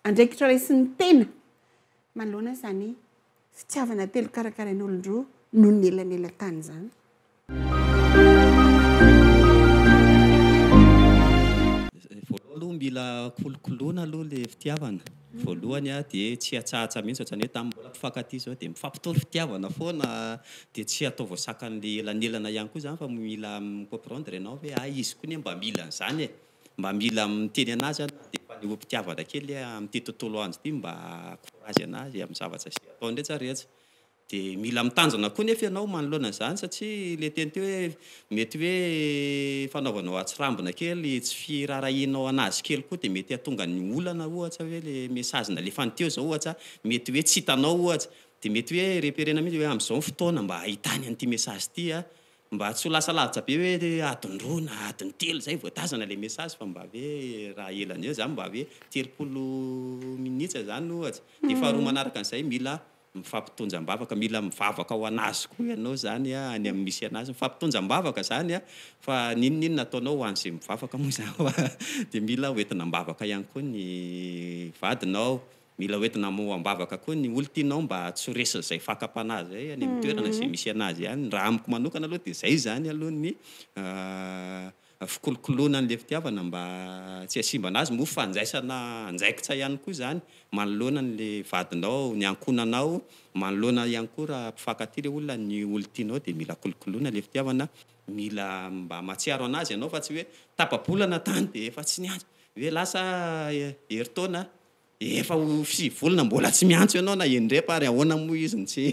andraikitra raisin'ny tena manoloana izany fitiavana telo karakarain'olon-droa noho ny elanelan-tany izany. Voalohany aloha mila kolokoloina aloha ilay fitiavana. Voalohany aho dia tsy hatsahatsa mihitsy ohatran'ny hoe tamin'ny mbola mpifankatia izao dia mifampitory fitiavana foana dia tsy ataovy sakan'ny elanelana ihany koa izany fa mila mi-comprendre ianao hoe hay izy koa anie mba mila an'izany e! mba mila miteny an'azy aho na dia efa nihoa-pitiavana kely amin'ity tontolo andro ity mba courage an'azy amin'ny zavatra izay ataony rehetra rehetra Dia mila mitandrina koa nefa ianao manoloana izany satria ilay teny teo hoe mety hoe fanaovanao hatsirambina kely tsy firaharahianao an'azy kely koa dia mety hahatonga ny olana ohatra hoe ilay message nalefany teo izao ohatra mety hoe tsy hitanao ohatra dia mety hoe reperena mihitsy hoe amin'izao ny fotoana mba hahitany an'ity message ity aho mba tsy ho lasa lavitra be hoe adiny roa na adiny telo izay vao tazana ilay message fa mba hoe raha ela an'izay izany mba hoe telopolo minitra izany ohatra dia faharoa manaraka an'izay mila Mifampitonja am-bavaka, mila mivavaka ho an'azy koa ianao izany a, any amin'ny misy an'azy. Mifampitonja am-bavaka izany a, fa n'inon'inona ataonao ho an'izay mivavaka moa izany hoa, dia mila ho entina am-bavaka ihany koa ny vadinao, mila ho entina ho am-bavaka koa ny olona tianao mba tsy ho resin'izay fakam-panahy izay any amin'ny toerana izay misy an'azy any. Raha amiko manokana aloha dia izay izany aloha ny Fikolokoloana an'ilay fitiavana mba tsy hasimbana azy moa fandraisana andraikitra ihany koa izany manoloana an'ilay vadinao, ny ankohonanao, manoloana ihany koa raha mpifankatia ilay olona, ny olon-tianao dia mila kolokoloina ilay fitiavana, mila mba mahatsiaro an'azy ianao fa tsy hoe tapa-bolana tany dia efa tsy niandry, hoe lasa herintaona Efa ho sivy volana mbola tsy miantso ianao na indrepa ary ahoana moa izy no tsy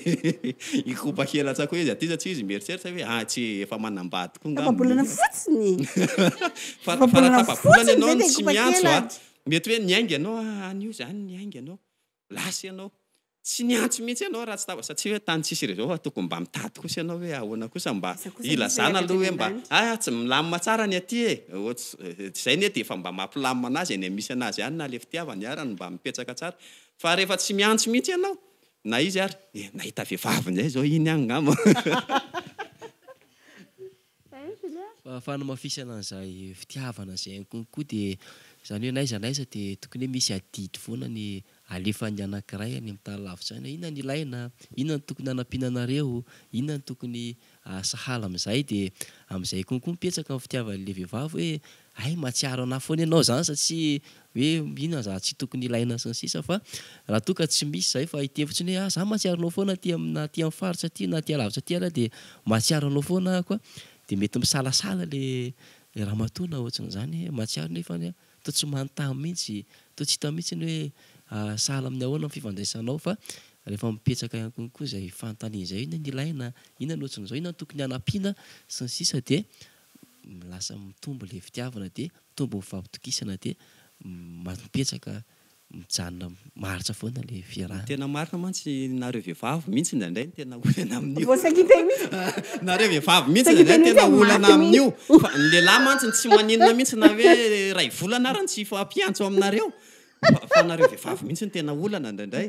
hikopa kely atsako hoe izy aty sa tsy izy mieritreritra hoe ah tsy efa manambady koa ngamba izy Tapa-bolana fotsiny Fa raha tapa-bolana ianao no tsy miantso a mety hoe niainga ianao any io zany niainga ianao lasa ianao Tsy niantso mihitsy ianao raha tsy tava satsia hoe tany tsisy réseau fa tokony mba mitady kosa ianao hoe ahoana kosa mba hilazana aloha hoe mba ah tsy milamina tsara ny aty e! izay anie dia efa mba mampilamina anazy eny misy anazy ihany na le fitiavany ara no mba mipetraka tsara fa rehefa tsy miantso mihitsy ianao na izy ary nahita vehivavy ndray zao iny angamba. Fa fanamafisana an'izay fitiavana izay ihany koa koa dia izany hoe n'aiza n'aiza dia tokony hoe misy adidy foana ny alefan'ny anankiray any amin'ny tany lavitra any hoe inona no ilaina, inona no tokony hanampiana anareo, inona no tokony sahala amin'izay dia amin'izay koa koa mipetsaka ny fitiavan'ilay vehivavy hoe Hay mahatsiaro anah foana ianao zany satsia hoe inona za tsy tokony ilaina sy ny sisa fa raha toa ka tsy misy zay fa hiteny fotsiny hoe ah za mahatsiaro anao foana aty am na aty am faritra aty na aty alavitra aty ary ah de mahatsiaro anao foana ahako ah de mety misalasala le le ramatoa na ohatsin'izany hoe mahatsiaro nefany ah toa tsy manontany mihitsy toa tsy hita mihitsiny hoe ah sahala amin'ny ahoana ny fifandraisanao fa rehefa mipetraka ihany konko zay fanontaniana zay hoe inona no ilaina inona no ohatsin'izao inona no tokony hanampiana sy ny sisa de lasa mitombo ilay fitiavana dia mitombo ny fampitokisana dia mampihetsaka mijanona maharitra foana ilay fiarahana. Tena marina mantsy nareo vevavy mintsy indraindray no tena olana amin'io. Nareo vevavy mintsy indraindray no tena olana amin'io fa ny lehilahy mantsy tsy maninona mintsy na hoe iray volana ary tsy hifampiantso aminareo fa nareo vevavy mintsy no tena olana indraindray.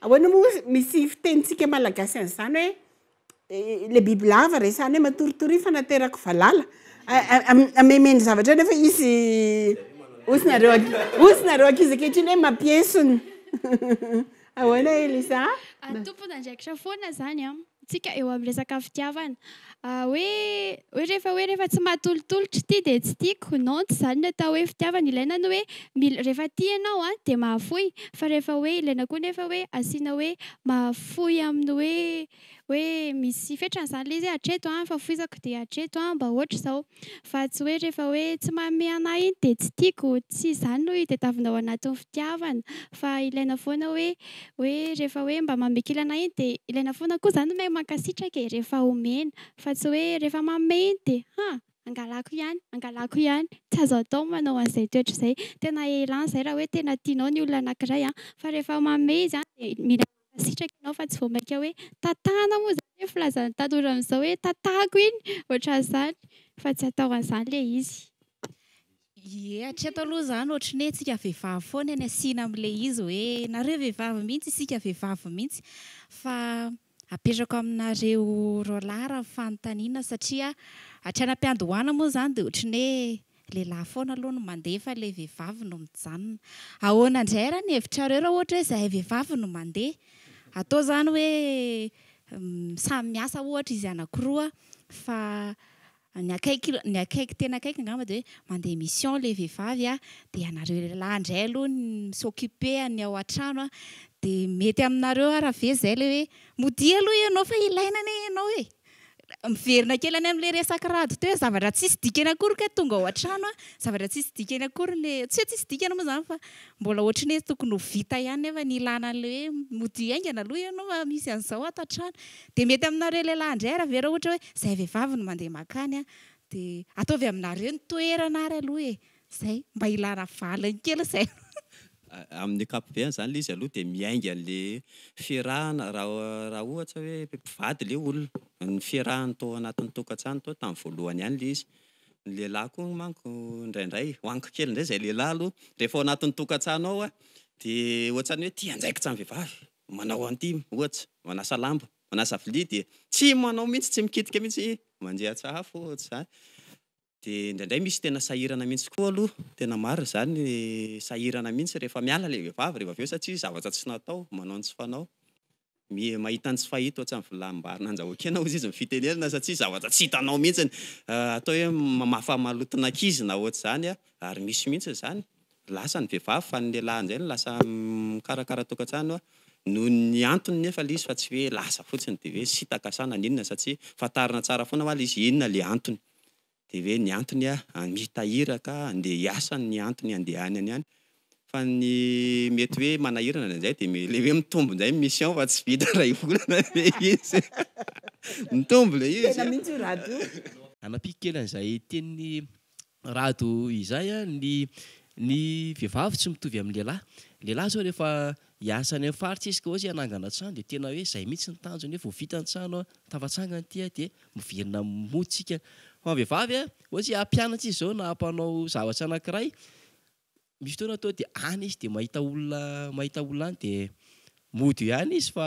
Ahoana moa ozy misy fitenintsika malagasy an'izany hoe le biby lava resahany hoe matoritory fa naterako valala ameme ny zavatra nefa izy ozy nareo ozy nareo ankizy ankehitriny hoe mampiesona ahoana elisa atompon'andraikitra foana zany a tsika eo amin'ny resaka fitiavana hoe hoe rehefa hoe rehefa tsy mahatolotolotra ity dia tsy tiako non tsy izany ny atao hoe fitiavana ilaina ny hoe mila rehefa tia ianao an dia mahafoy fa rehefa hoe ilaina koa nefa hoe asiana hoe mahafoy amin'ny hoe hoe misy fetrany izany ilay izy hoe hatreto an fahafoizako dia hatreto an mba ohatra izao fa tsy hoe rehefa hoe tsy manome anah iny dia tsy tiako tsy izany no itadiavinao anatin'ny fitiavana Fa ilaina foana hoe hoe rehefa hoe mba mamekilana iny dia ilaina foana koa izany hoe mankasitraka e, rehefa omena. Fa tsy hoe rehefa manome iny dia ha! angalako ihany, angalako ihany. Tsy azo atao ny manao an'izay toetra izay. Tena ilana izay raha hoe tena tianao ny olona anankiray an. Fa rehefa manome izy an dia mila. Mankasitraka ianao fa tsy vao mainka hoe tantana moa izany hoe filazan'ny tanora amin'izao hoe tantako iny, ohatran'izany fa tsy atao an'izany ilay izy. Ie, hatreto aloha izany ohatry ny hoe isika vehivavy foana ny asiana amin'ilay izy hoe nareo vehivavy mihitsy, isika vehivavy mihitsy fa apetrako aminareo roalahy raha ny fanontaniana satria hatrany am-piandohana moa izany dia ohatry ny hoe Lehilahy foana aloha no mandeha fa ilay vehivavy no mijanona. Ahoana indray ary ny hevitrareo raha ohatra hoe izahay vehivavy no mandeha? Atao izany hoe samy miasa ohatra izy anankiroa fa ny akaiky ny akaiky tena akaiky angamba dia hoe mandeha mission ilay vehivavy a, dia ianareo lehilahy indray aloha no mi-s'occuper an'ny ao an-trano dia mety aminareo ary ve izay ilay hoe modia aloha ianao fa ilaina anie ianao e! Miverina kely any amin'ilay resaka rado teo hoe zavatra tsisy dikany akory kay tonga ao an-trano a, zavatra tsisy dikany akory ny, tsy hoe tsisy dikany moa izany fa mbola ohatry ny hoe tokony ho vita ihany nefa ny ilàna an'ilay hoe modia haingana aloha ianao fa misy an'izao ato an-trano. Dia mety aminareo lehilahy indray ary ve raha ohatra hoe izahay vehivavy no mandeha makany an, dia ataovy aminareo ny toerana ary aloha e! Izay, mba hilaina valiny kely izay. Amin'ny ankapobeny izany ilay izy aloha dia miainga an'ilay fiarahana raha ohatra hoe mpivady ilay olona, ny fiarahany tao anatin'ny tokantrano tao tamin'ny voalohany ihany ilay izy. Ny lehilahy koa manko indraindray, wanko kely indray izay lehilahy aloha, rehefa ao anatin'ny tokantrano ao dia ohatran'ny hoe tia andraikitra ny vehivavy, manao an'ity ohatra, manasa lamba, manasa vilia dia tsy manao mihitsy, tsy mikitika mihitsy, mandian-tsahafo ohatra izany. dia indraindray misy tena sahirana mihitsy koa aloha, tena marina izany, sahirana mihitsy rehefa miala ilay vehivavy rehefa avy eo satria zavatra tsy natao, manao ny tsy fanao, mi- mahita ny tsy fahita ohatran'ny vilambary nandrahoan-kena hozy izy ny fitenenana satria zavatra tsy hitanao mihitsy, atao hoe mamafa maloton'ankizy na ohatr'izany an, ary misy mihitsy izany, lasa ny vehivavy fa ny lehilahy indray no lasa mikarakara tokantrano an, noho ny antony nefa ilay izy fa tsy hoe lasa fotsiny dia hoe sitaka sa naninona satria fantarina tsara foana ho'a ilay izy inona ilay antony. de hoe ny antony a hamita iraka andeha hiasa ny antony handehanany any fa ny mety hoe manahirana de zay de me- le hoe mitombo ndray ny mission fa tsy vita ray volana le izy mitombo le izy Tena mihitsy io Rado io. Hanapiko kely an'izay tenin'i Rado izay a, ny ny vehivavy tsy mitovy amin'ny lehilahy, ny lehilahy zao rehefa Hiasa any amin'ny faritra izy ka ohatsy hoe hanangana trano dia tena hoe izay mihitsy ny tanjony hoe vao vita ny trano an, tafatsangana ity an, dia miverina moa tsika. Fa ny vehivavy an, ohatsy hoe hampianatra izy izao na hampanao zavatra anakiray, misy fotoana tonga dia any izy dia mahita olona mahita olona any dia mody eo ihany izy fa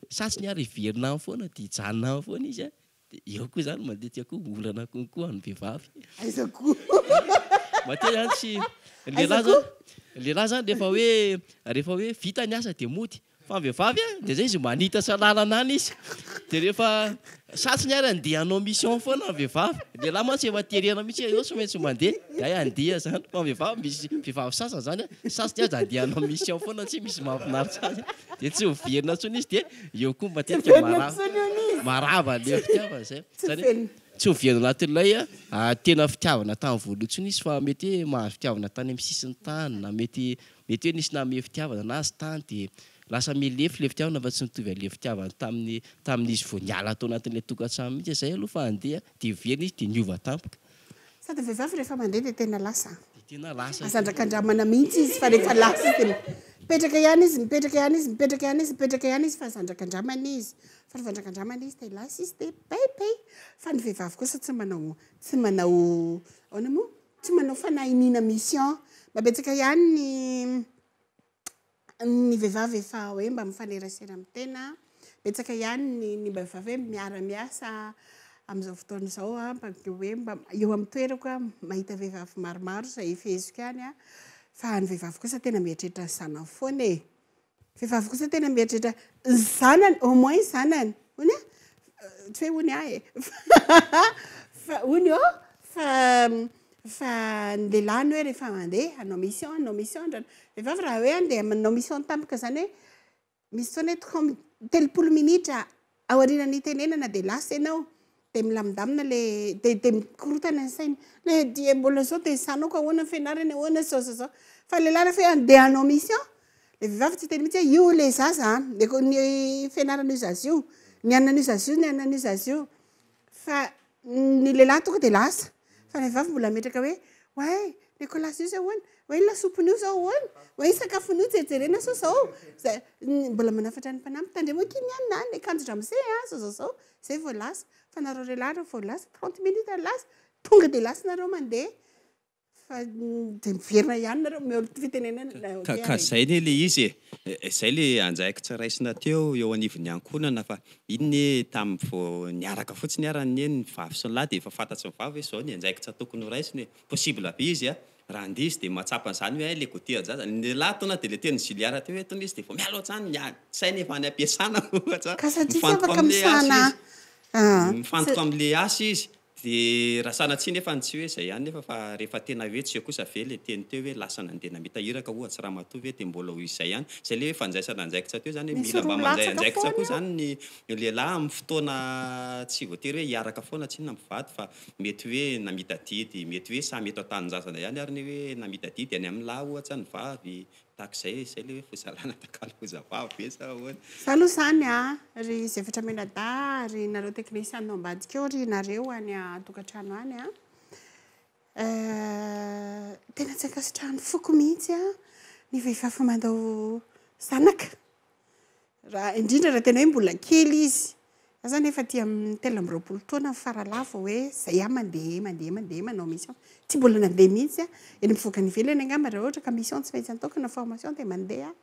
sa tsy ny ary hiverina any foana dia hijanona any foana izy an. Dia eo koa izany matetika koa olana konko an'ny vehivavy. Aiza koa? Matetika izany tsy, ny lehilahy izany, ny lehilahy izany rehefa hoe, rehefa hoe vita ny asa dia mody. Fa ny vehivavy an, dia izay izy manitatra lalana any izy. Dia rehefa satsiny ary handeha hanao mission foana ny vehivavy. Ny lehilahy mantsy efa terena mihitsy hoe eo tsy maintsy mandeha, dia hay handeha izany. Fa ny vehivavy, misy vehivavy sasany izany an, satsiny aza handeha hanao mission foana, tsy misy mahafinaritra azy. Dia tsy miverina intsony izy dia. Eo koa matetika marava le fitiavana zay zany tsy ho very anatin'ilay tena fitiavana tamin'ny voalohany intsony izy fa mety hoe mahazo fitiavana tany amin'ny sisin'ny tany na mety mety hoe nisy nanome fitiavana anazy tany dia lasa milefy le fitiavana fa tsy mitovy an'le fitiavana tamin'ny tamin'izy vao niala tao anatin'ilay tokantrano mihitsy zay aloha fa andeha dia very izy dia niova tampoka Sady vehivavy rehefa mandeha dia tena lasa an. Dia tena lasa. Aza andrakandramana mihitsy izy fa rehefa lasa izy dia mipetraka ihany izy, mipetraka ihany izy, mipetraka ihany izy, mipetraka ihany izy fa aza andrakandramana izy. Fa rehefa andrakandramana izy dia lasa izy dia pay pay. Fa ny vehivavy kosa tsy manao tsy manao ahoana moa? Tsy manao fanahy iniana mission. Mba betsaka ihany ny. ny vehivavy efa hoe mba mifanerasera amin'ny tena, betsaka ihany ny ny vehivavy hoe miara miasa amin'izao fotoana izao an, mba dia hoe mba eo amin'ny toerako aho mahita vehivavy maromaro izay feheziko ihany an, fa ny vehivavy kosa tena mieritreritra ny zanany foana e! vehivavy kosa tena mieritreritra ny zanany, au moins ny zanany, hoy ny ahy, tsy hoe hoy ny ahy e! hoy ny ahy fa Fa ny lehilahy ny hoe rehefa mandeha hanao mission, hanao mission ndra ny vehivavy raha hoe andeha manao mission tampoka izany hoe misy fotoana hoe toko am- telopolo minitra aorianan'ny hitenenana dia lasa ianao, dia milamindamina le, dia dia mikorontana ny sainy, le dia mbola zao dia sanoko ahoana ny fianarany, ahoana zao zao zao. Fa ny lehilahy rehefa hoe andeha hanao mission, le vehivavy tsy hiteny mihitsy hoe io le zaza an, ny fianaran'io zaza io, ny an'io zaza io, ny an'io zaza io. Fa ny lehilahy tonga dia lasa, fa ny vehivavy mbola hametraka hoe, oay, ny colas io izao ahoana? oay, ny lasopin'io izao ahoana? oay, ny sakafon'io jerijerena sao izao, izay, mbola manafatra ny mpanampy, tandremo akia ny anona an, ny akanjo ramose an, izao izao izao, izay vao lasa, fa nareo lehilahy raha vao lasa, trente minutes lasa, tonga dia lasa nareo mandeha, Fa dia miverina ihany nareo mihaolo fitenenana. Ka ka zay ne le izy e. Zay le andraikitra raisina teo eo anivon'ny ankohonana fa iny ne tamin'ny vao niaraka fotsiny ara anie ny vavy sy ny lahy dia efa fantatry ny vavy hoe zao ny andraikitra tokony ho raisina e. Possible be izy a. Raha ndizy dia mahatsapa an'izany hoe hay le go tia an-jaza. Ny lahy tonga dia le teny Juliara teo hoe eto misy dia vao miala ohatrany ny saina efa any am-piasana ohatra. Ka satria tsy afaka misahana an. Mifantoka amin'ilay asa izy. Dia raha sanatsia nefa ny tsy hoe izay ihany nefa fa rehefa tena hoe tsy eo kosa ve ilay teny teo hoe lasa nandeha namita iraka ohatsy ramatoa ve dia mbola ho izay ihany? Izay ilay hoe fanjaisana anjaikitra teo izany hoe mila mba mandray anjaikitra koa izany ny lehilahy amin'ny fotoana tsy voatery hoe hiaraka foana tsinona mpivady fa mety hoe namita didy, mety hoe samy eto an-tanindrazana ihany ary ny hoe namita didy any amin'ny lahy ohatsa ny vavy Tahaka izay e, izay ilay hoe fizarana takalo foza vava ve sa ahoana? Za aloha zany a, ry Zefatra Menadahy ary nareo teknisianina ao ambadika ao ry nareo any an-tokantrano any a, tena tsy ankasitrahan'ny foko mihitsy ny vehivavy mandao zanaka. Raha indrindra raha tena hoe mbola kely izy. Za zany efa aty amin'ny telo amby roapolo taona faralahy vao hoe zay ihany mandeha mandeha mandeha manao mission. Tsy mbola nandeha mihitsy aho. Eny mivoaka any ivelany angamba raha ohatra ka mission tsy maintsy ataoko na formation dia mandeha aho.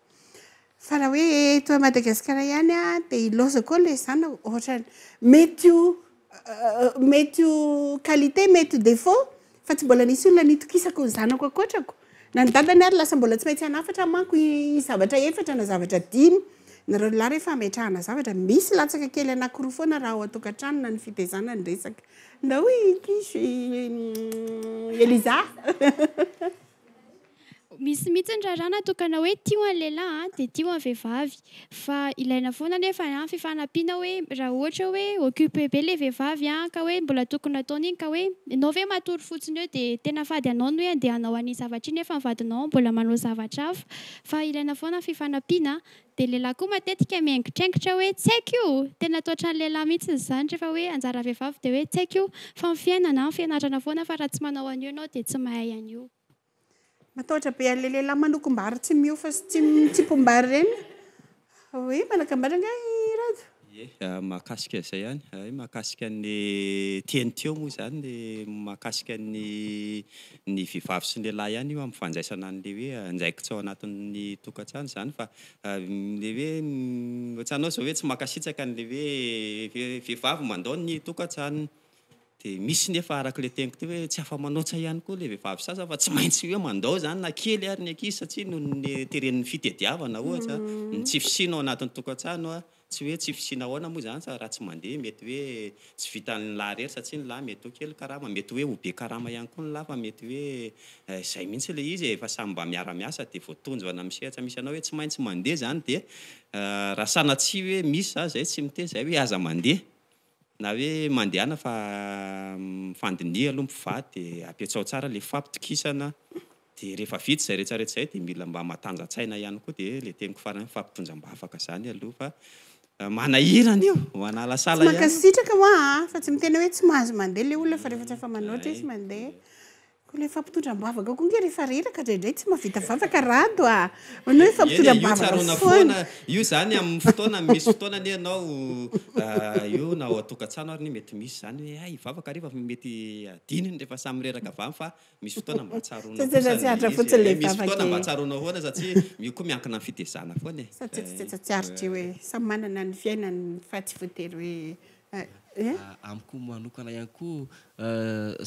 Fa raha hoe eto Madagasikara ihany aho dia ilaozako ao ilay zanako. Ohatra, mety ho Mety ho qualité, mety ho défaut, fa tsy mbola nisy olona nitokisako ny zanako ankoatrako. Na ny dadany ary lasa mbola tsy maintsy hanafatra manko i zavatra efatra na zavatra dimy. Nareo lehilahy rehefa hametrahana zavatra, misy latsaka kely anakiroa foana raha ao an-tokantrano na ny fitezana ny resaka. Ndao i Kish, i Eliza. Misy mihitsy ny raharaha natokana hoe tio ny lehilahy dia tio ny vehivavy fa ilaina foana anefa ny fifanampiana hoe raha ohatra hoe occupe be ilay vehivavy ka hoe mbola tokony ataony iny ka hoe ianao ve matory fotsiny eo dia tena fady anao ny hoe andeha hanao an'iny zavatra iny nefa ny vadinao mbola manao zavatra hafa fa ilaina foana ny fifanampiana dia ny lehilahy koa matetika miaingitraingitra hoe tsy haiko io tena atao hatrany lehilahy mihitsy izany rehefa hoe anjaran'ny vehivavy dia hoe tsy haiko io fa ny fiainana ny fianarana foana fa raha tsy manao an'io ianao dia tsy mahay an'io. Matahotra be an'ilay lehilahy manokom-bary tsy mihofa sy tsy mitsimpom-bary ireny aho. Hoe manakam-bary angaha i Rado? Ie, mahakasika izay ihany. Hay mahakasika ny teny teo moa izany dia mahakasika ny ny vehivavy sy ny lehilahy ihany io amin'ny fandraisana an'ilay hoe andraikitra ao anatin'ny tokantrano izany fa ilay hoe ohatranao izao hoe tsy mankasitraka an'ilay hoe vehivavy mandao ny tokantranony. dia misy nefa araka ilay teniko teo hoe tsy afa-manoatra ihany koa ilay vehivavy sasany fa tsy maintsy hoe mandao izany na kely ary ny ankizy satria noho ny teren'ny fitediavana ohatra, ny tsy fisiana ao anatin'ny tokantrano, tsy hoe tsy fisiana ahoana moa izany fa raha tsy mandeha mety hoe tsy vitan'ny lahy irery satria ny lahy mety ho kely karama, mety hoe ho be karama ihany koa ny lahy fa mety hoe izay mihitsy ilay izy e, efa samy mba miara-miasa dia voatonjy ho any amin'ny sehatra misy anao hoe tsy maintsy mandeha izany dia raha sanatria hoe misy izany izay tsy miteny izay hoe aza mandeha. Na hoe mandehana fa mifandiniha aloha mpivady dia apiatsao tsara ilay fampitokisana dia rehefa vita izay rehetra rehetra izay dia mila mba matanjatsaina ihany koa dia ilay teniko farany hoe fampitondram-bavaka izany aloha fa manahirana io manalasala ihany. Tsy mankasitraka hoa a! Fa tsy miteny hoe tsy mahazo mandeha ilay olona fa rehefa tsy afa-manoatra izy mandeha. Ko le fampitondra ambavaka ko nge refa reraka draindray tsy mavita vavaka rado a! Hono oe fampitondra ambavaka foana. Io zany aminy fotoana misy fotoana anie ianao io na ao atokatsano ary anie mety misy zany oe hay hivavaka refa mety adinony refa samy mireraka avy any fa misy fotoana mba tsaroana kosa le izy e! Misy fotoana mba tsaroana foana satria io ko miankina am fitezana foana e! Satsia tsy tetsy atsiaritra io e! Samy manana ny fiainany fa tsy voatery oe Amiko manokana ihany koa,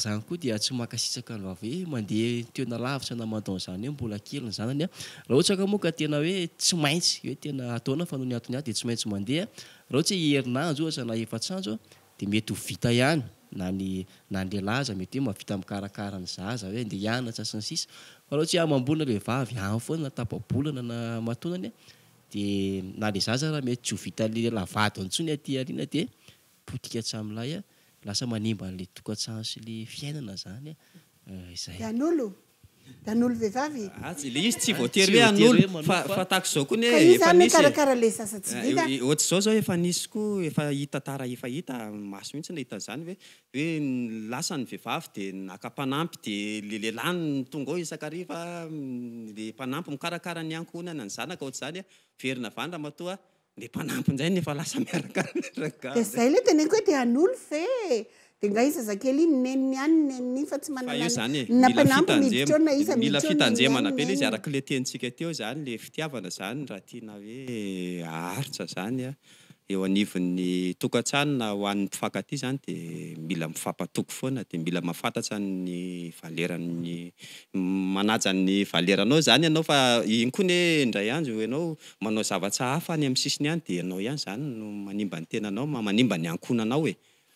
zany koa dia tsy mankasitraka ny vavy hoe mandeha toerana lavitra na manao an'izany hoe mbola kely ny zanany an! Raha ohatra ka moa ka tena hoe tsy maintsy, hoe tena ataona fa noho ny antony hafa dia tsy maintsy mandeha, raha ohatra hoe herinandro ohatra na efatr'andro dia mety ho vita ihany na ny na ny lehilahy aza mety hoe mahavita mikarakara ny zaza hoe andeha hianatra sy ny sisa, fa raha ohatra hoe amam-bolana ilay vavy any foana na tapa-bolana na aman-taonany an! Dia na le zaza ara mety tsy ho vitan'ny lehilahy vadiny intsony aty aoriana dia potika hatramin'ny lahy, lasa manimba an'ilay tokantrano sy ilay fiainana izany izay. Hanolo? Hanolo vehivavy? Atsy, ilay izy tsy voatery hoe hanolo fa fa tahaka izao koa anie efa nisy e. Ka iza mikarakara ilay zaza tsy vita? Ohatr'izao izao efa nisy koa efa hita tara efa hita maso mihitsy nahita an'izany hoe hoe lasa ny vehivavy dia naka mpanampy dia ilay lehilahy no tonga ao isan-kariva, ilay mpanampy mikarakara ny ankohonana, ny zanaka ohatr'izany an, very navany ramatoa, ilay mpanampy indray no efa lasa miaraka amin'ny rangahy. Dia izay ilay teneniko hoe dia hanolf e! Dia nga i zazakely iny neniny any ny neniny iny fa tsy manana na mpanampy miditra eo na iza miditra eo ny neniny any ny neniny. Mila fitanjemana be ilay izy araka ilay tenintsika teo izany, ilay fitiavana izany raha tiana hoe haharitra izany an, eo anivon'ny tokantrano na ho an'ny mpifankatia izany dia mila mifampatoky foana dia mila mahafantatra ny valeran'ny manaja ny valeranao izany ianao fa iny koa anie indray andro ianao manao zavatra hafa any amin'ny sisiny any dia ianao ihany izany no manimba ny tenanao manimba ny ankohonanao e!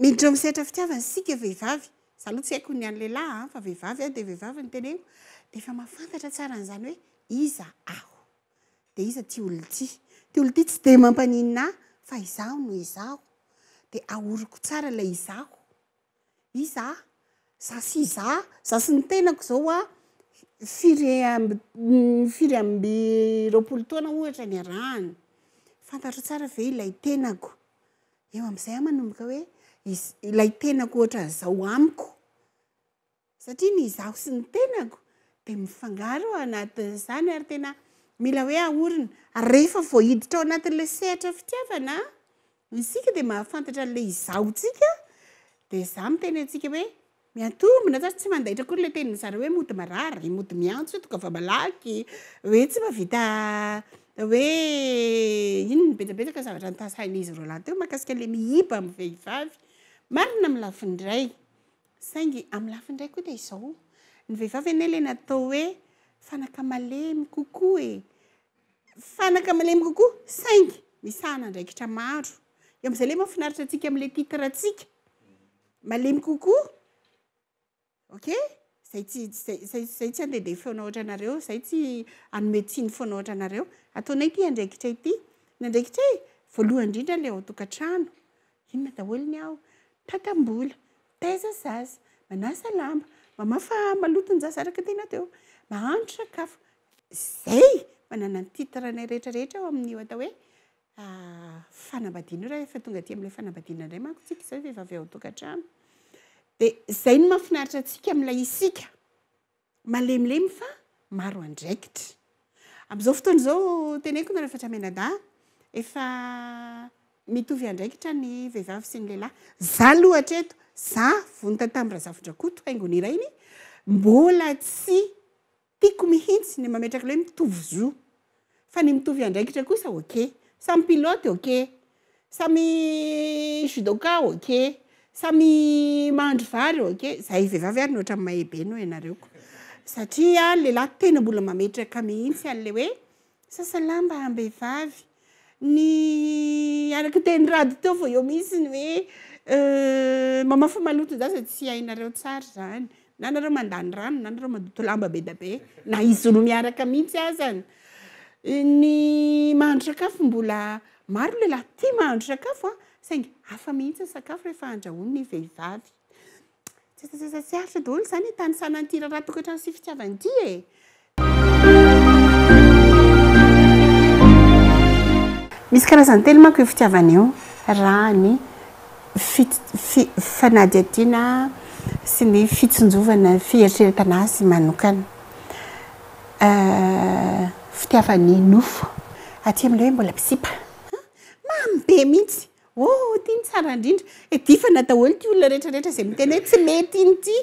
Miditra ao amin'ny sehatra fitiavana isika vehivavy, za aloha tsy haiko ny an'ny lehilahy an, fa vehivavy aho dia vehivavy no teneniko, dia efa mahafantatra tsara an'izany hoe iza aho, dia iza ity olona ity, ity olona ity tsy dia mampaninona ahy fa izaho no izaho, dia ahoroko tsara ilay izaho, iza aho, za sy iza, za sy ny tenako izao hoa firy amby firy amby roapolo taona ohatra niarahana, fantatro tsara ve ilay tenako, Eo amin'izay aho manomboka hoe ilay tenako ohatran'izao amiko. Satria ny izaho sy ny tenako dia mifangaro anatin'izany ary tena mila hoe ahorina. Ary rehefa vao hiditra ao anatin'ilay sehatra fitiavana isika dia mahafantatra an'ilay izaho-tsika dia izaho miteny antsika hoe Miantombina zany tsy mandaitra akory le tenin'ny zareo hoe mody marary e, mody miantso hoe tonga fa malaky, hoe tsy mahavita hoe inona betsabetsaka zavatra nitasain'izy roalahy teo mahakasika le mihiba amin'ny vehivavy. Marina amin'ny lafiny iray, saingy amin'ny lafiny iray koa dia izao, ny vehivavy anie le natao hoe fanaka malemy kokoa e, fanaka malemy kokoa saingy misahana andraikitra maro, eo amin'izay le mahafinaritra antsika amin'le titre-ntsika, Malemy kokoa? Ok? Zay tsy, zay, zay, zay tsy andehandeha foana ohatra anareo, zay tsy hanome tsiny foana ohatra anareo. Ataonay ity andraikitra ity. Ny andraikitra e, voalohany indrindra ilay ao tokantrano. Inona daholo ny ao? Tatambola, taiza zaza, manasa lamba, mamafa maloto ny zaza araka ny tena teo, mahandro sakafo. Zay! Manana ny titre-nay rehetra rehetra ao amin'io atao hoe fanambadiana io rahefa tonga aty amin'ilay fanambadiana indray manko tsika izay vehivavy ao an-tokantrano dia izay no mahafinaritra antsika amin'ilay isika malemilemy fa maro andraikitra amin'izao fotoana izao teneniko nareo fa tramenada efa mitovy andraikitra ny vehivavy sy ny lehilahy za loha hatreto za vonita tamin'ny razafindrakoto haingony irainy mbola tsy Tiako mihintsy ny mametraka ilay hoe mitovy zo. Fa ny mitovy andraikitra kosa ok. Samy pilote ok. Samy judoka ok. Samy mahandro vary ok. Zahay vehivavy ary ny ohatran'ny mahay be noho ianareo ko. Satria ny lehilahy tena mbola mametraka mihintsy an'ilay hoe Sasa lamba am-behivavy. Ny araka ny tenin'i Rado teo vao eo mihitsy ny hoe mamafy maloton-jaza tsy hainareo tsara izany, na nareo mandany rano na nareo mandoto lamba be dia be, na izy roa miaraka mihitsy azany. Ny mahandro sakafo mbola maro ny lehilahy tia mahandro sakafo a, saingy hafa mihitsy ny sakafo rehefa andrahoin'ny vehivavy. Tsy aritra daholo izany e, tany sanan'ity raharaha tokantrano sy fitiavana ity e. Misy karazany telo manko io fitiavana io, raha ny fanadihadiana sy ny fitsinjovana fieritreretana azy manokana. Euh, fitiavan'ny nofo, aty amin'ilay hoe mbola misipa, mamy be mihitsy. Oh ity no tsara indrindra. Edifana daholo ity olona rehetra rehetra izay miteny hoe tsy mety iny ity.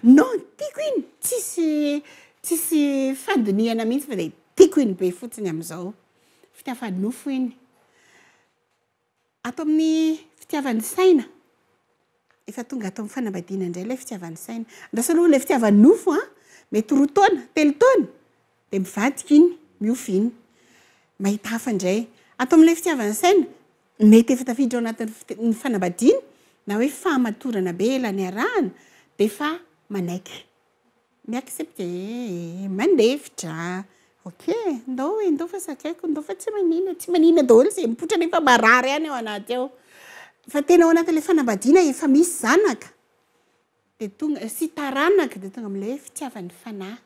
Non, tiako iny. Tsisy tsisy fandinihana mihitsy fa dia tiako iny be fotsiny amin'izao. Fitiavan'ny nofo iny. Ato amin'ny fitiavan'ny saina. Efa tonga ato amin'ny fanambadiana indray ilay fitiavan'ny saina. Andraso aloha ilay fitiavan'ny nofo an! Mety roa taona, telo taona, dia mivadika iny, miofo iny. Mahita hafa indray. Ato amin'ilay fitiavan'ny saina, mety efa tafiditra ao anatin'ny fiti- ny fanambadiana, na hoe fahamatorana be ela niarahana, dia efa manaiky. Mi accepte ee mandefitra ok ndao e ndao fa zakaiko ndao fa tsy manina tsy manina daholo izay mipoitra nefa marary any ao anaty ao fa tena ao anatin'ilay fanambadiana efa misy zanaka dia tonga sy taranaka dia tonga amin'ilay hoe fitiavan'ny fanahy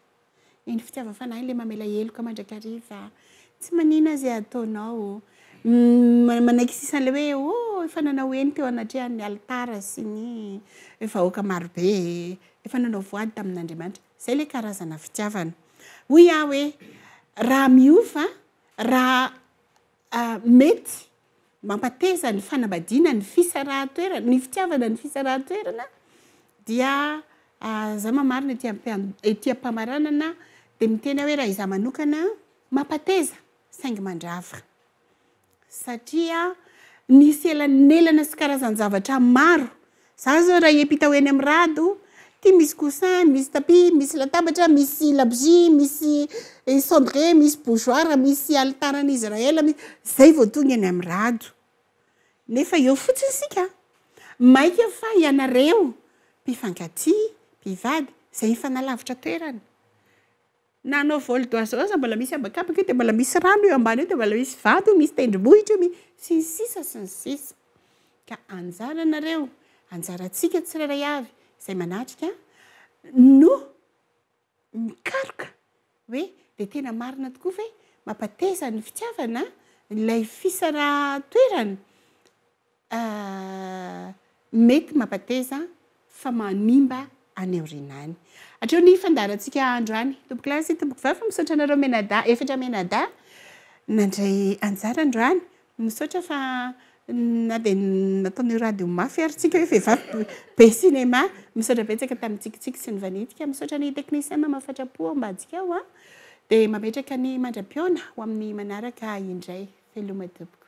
iny fitiavan'ny fanahy ilay mamela heloka mandrakariva tsy manina izay ataonao mm, manaiky sisa an'ilay hoe oh efa nanao eny teo anatrehan'ny alitara sy ny vahoaka marobe efa nanao voady tamin'Andriamanitra. Izay ilay karazana fitiavana. Hoy aho hoe, raha miova, raha mety mampateza ny fanambadiana, ny fisarahan-toerana, ny fitiavana, ny fisarahan-toerana, dia za mamarina ety am- ety am-pamaranana dia miteny aho hoe raha izaho manokana mampateza saingy mandrava. satria nisy elanelana sy karazan-javatra maro, za zao raha hiampita ho eny amin'ny rado, ty misy coussin, misy tapis, misy latabatra, misy labozia, misy cendrier, misy bougeoir, misy alitaran'i Israël, mi- zay vao tonga eny amin'ny rado, nefa eo fotsiny isika, mainka fa ianareo mpifankatia, mpivady, zay mifanalavitra toerana, Na anao vol d'oiseau aza mbola misy habakabaka io dia mbola misy rano io ambany io dia mbola misy vato io misy tendrombohitra io mi sy ny sisa sy ny sisa ka anjaranareo anjarantsika tsirairay avy izay manatrika no mikaroka hoe dia tena marina tokoa ve mampateza ny fitiavana ilay fisara toerana Ahh mety mampateza fa manimba any aoriana any. Hatreo ny fandaharantsika andro any. Tompoko lahy sy tompoko vavy misaotra anareo mianadahy efatra mianadahy nandray anjara androany. Misaotra fa na dia nataon'ny radio mafy ary tsika hoe vehivavy be cinéma. Misaotra betsaka tamin'ny tsikitsiky sy ny vanintsika. Misaotra ny technicien mama fatra-po ao ambadika ao an. Dia mametraka ny mandra-pihaona ho amin'ny manaraka indray. Veloma tompoko.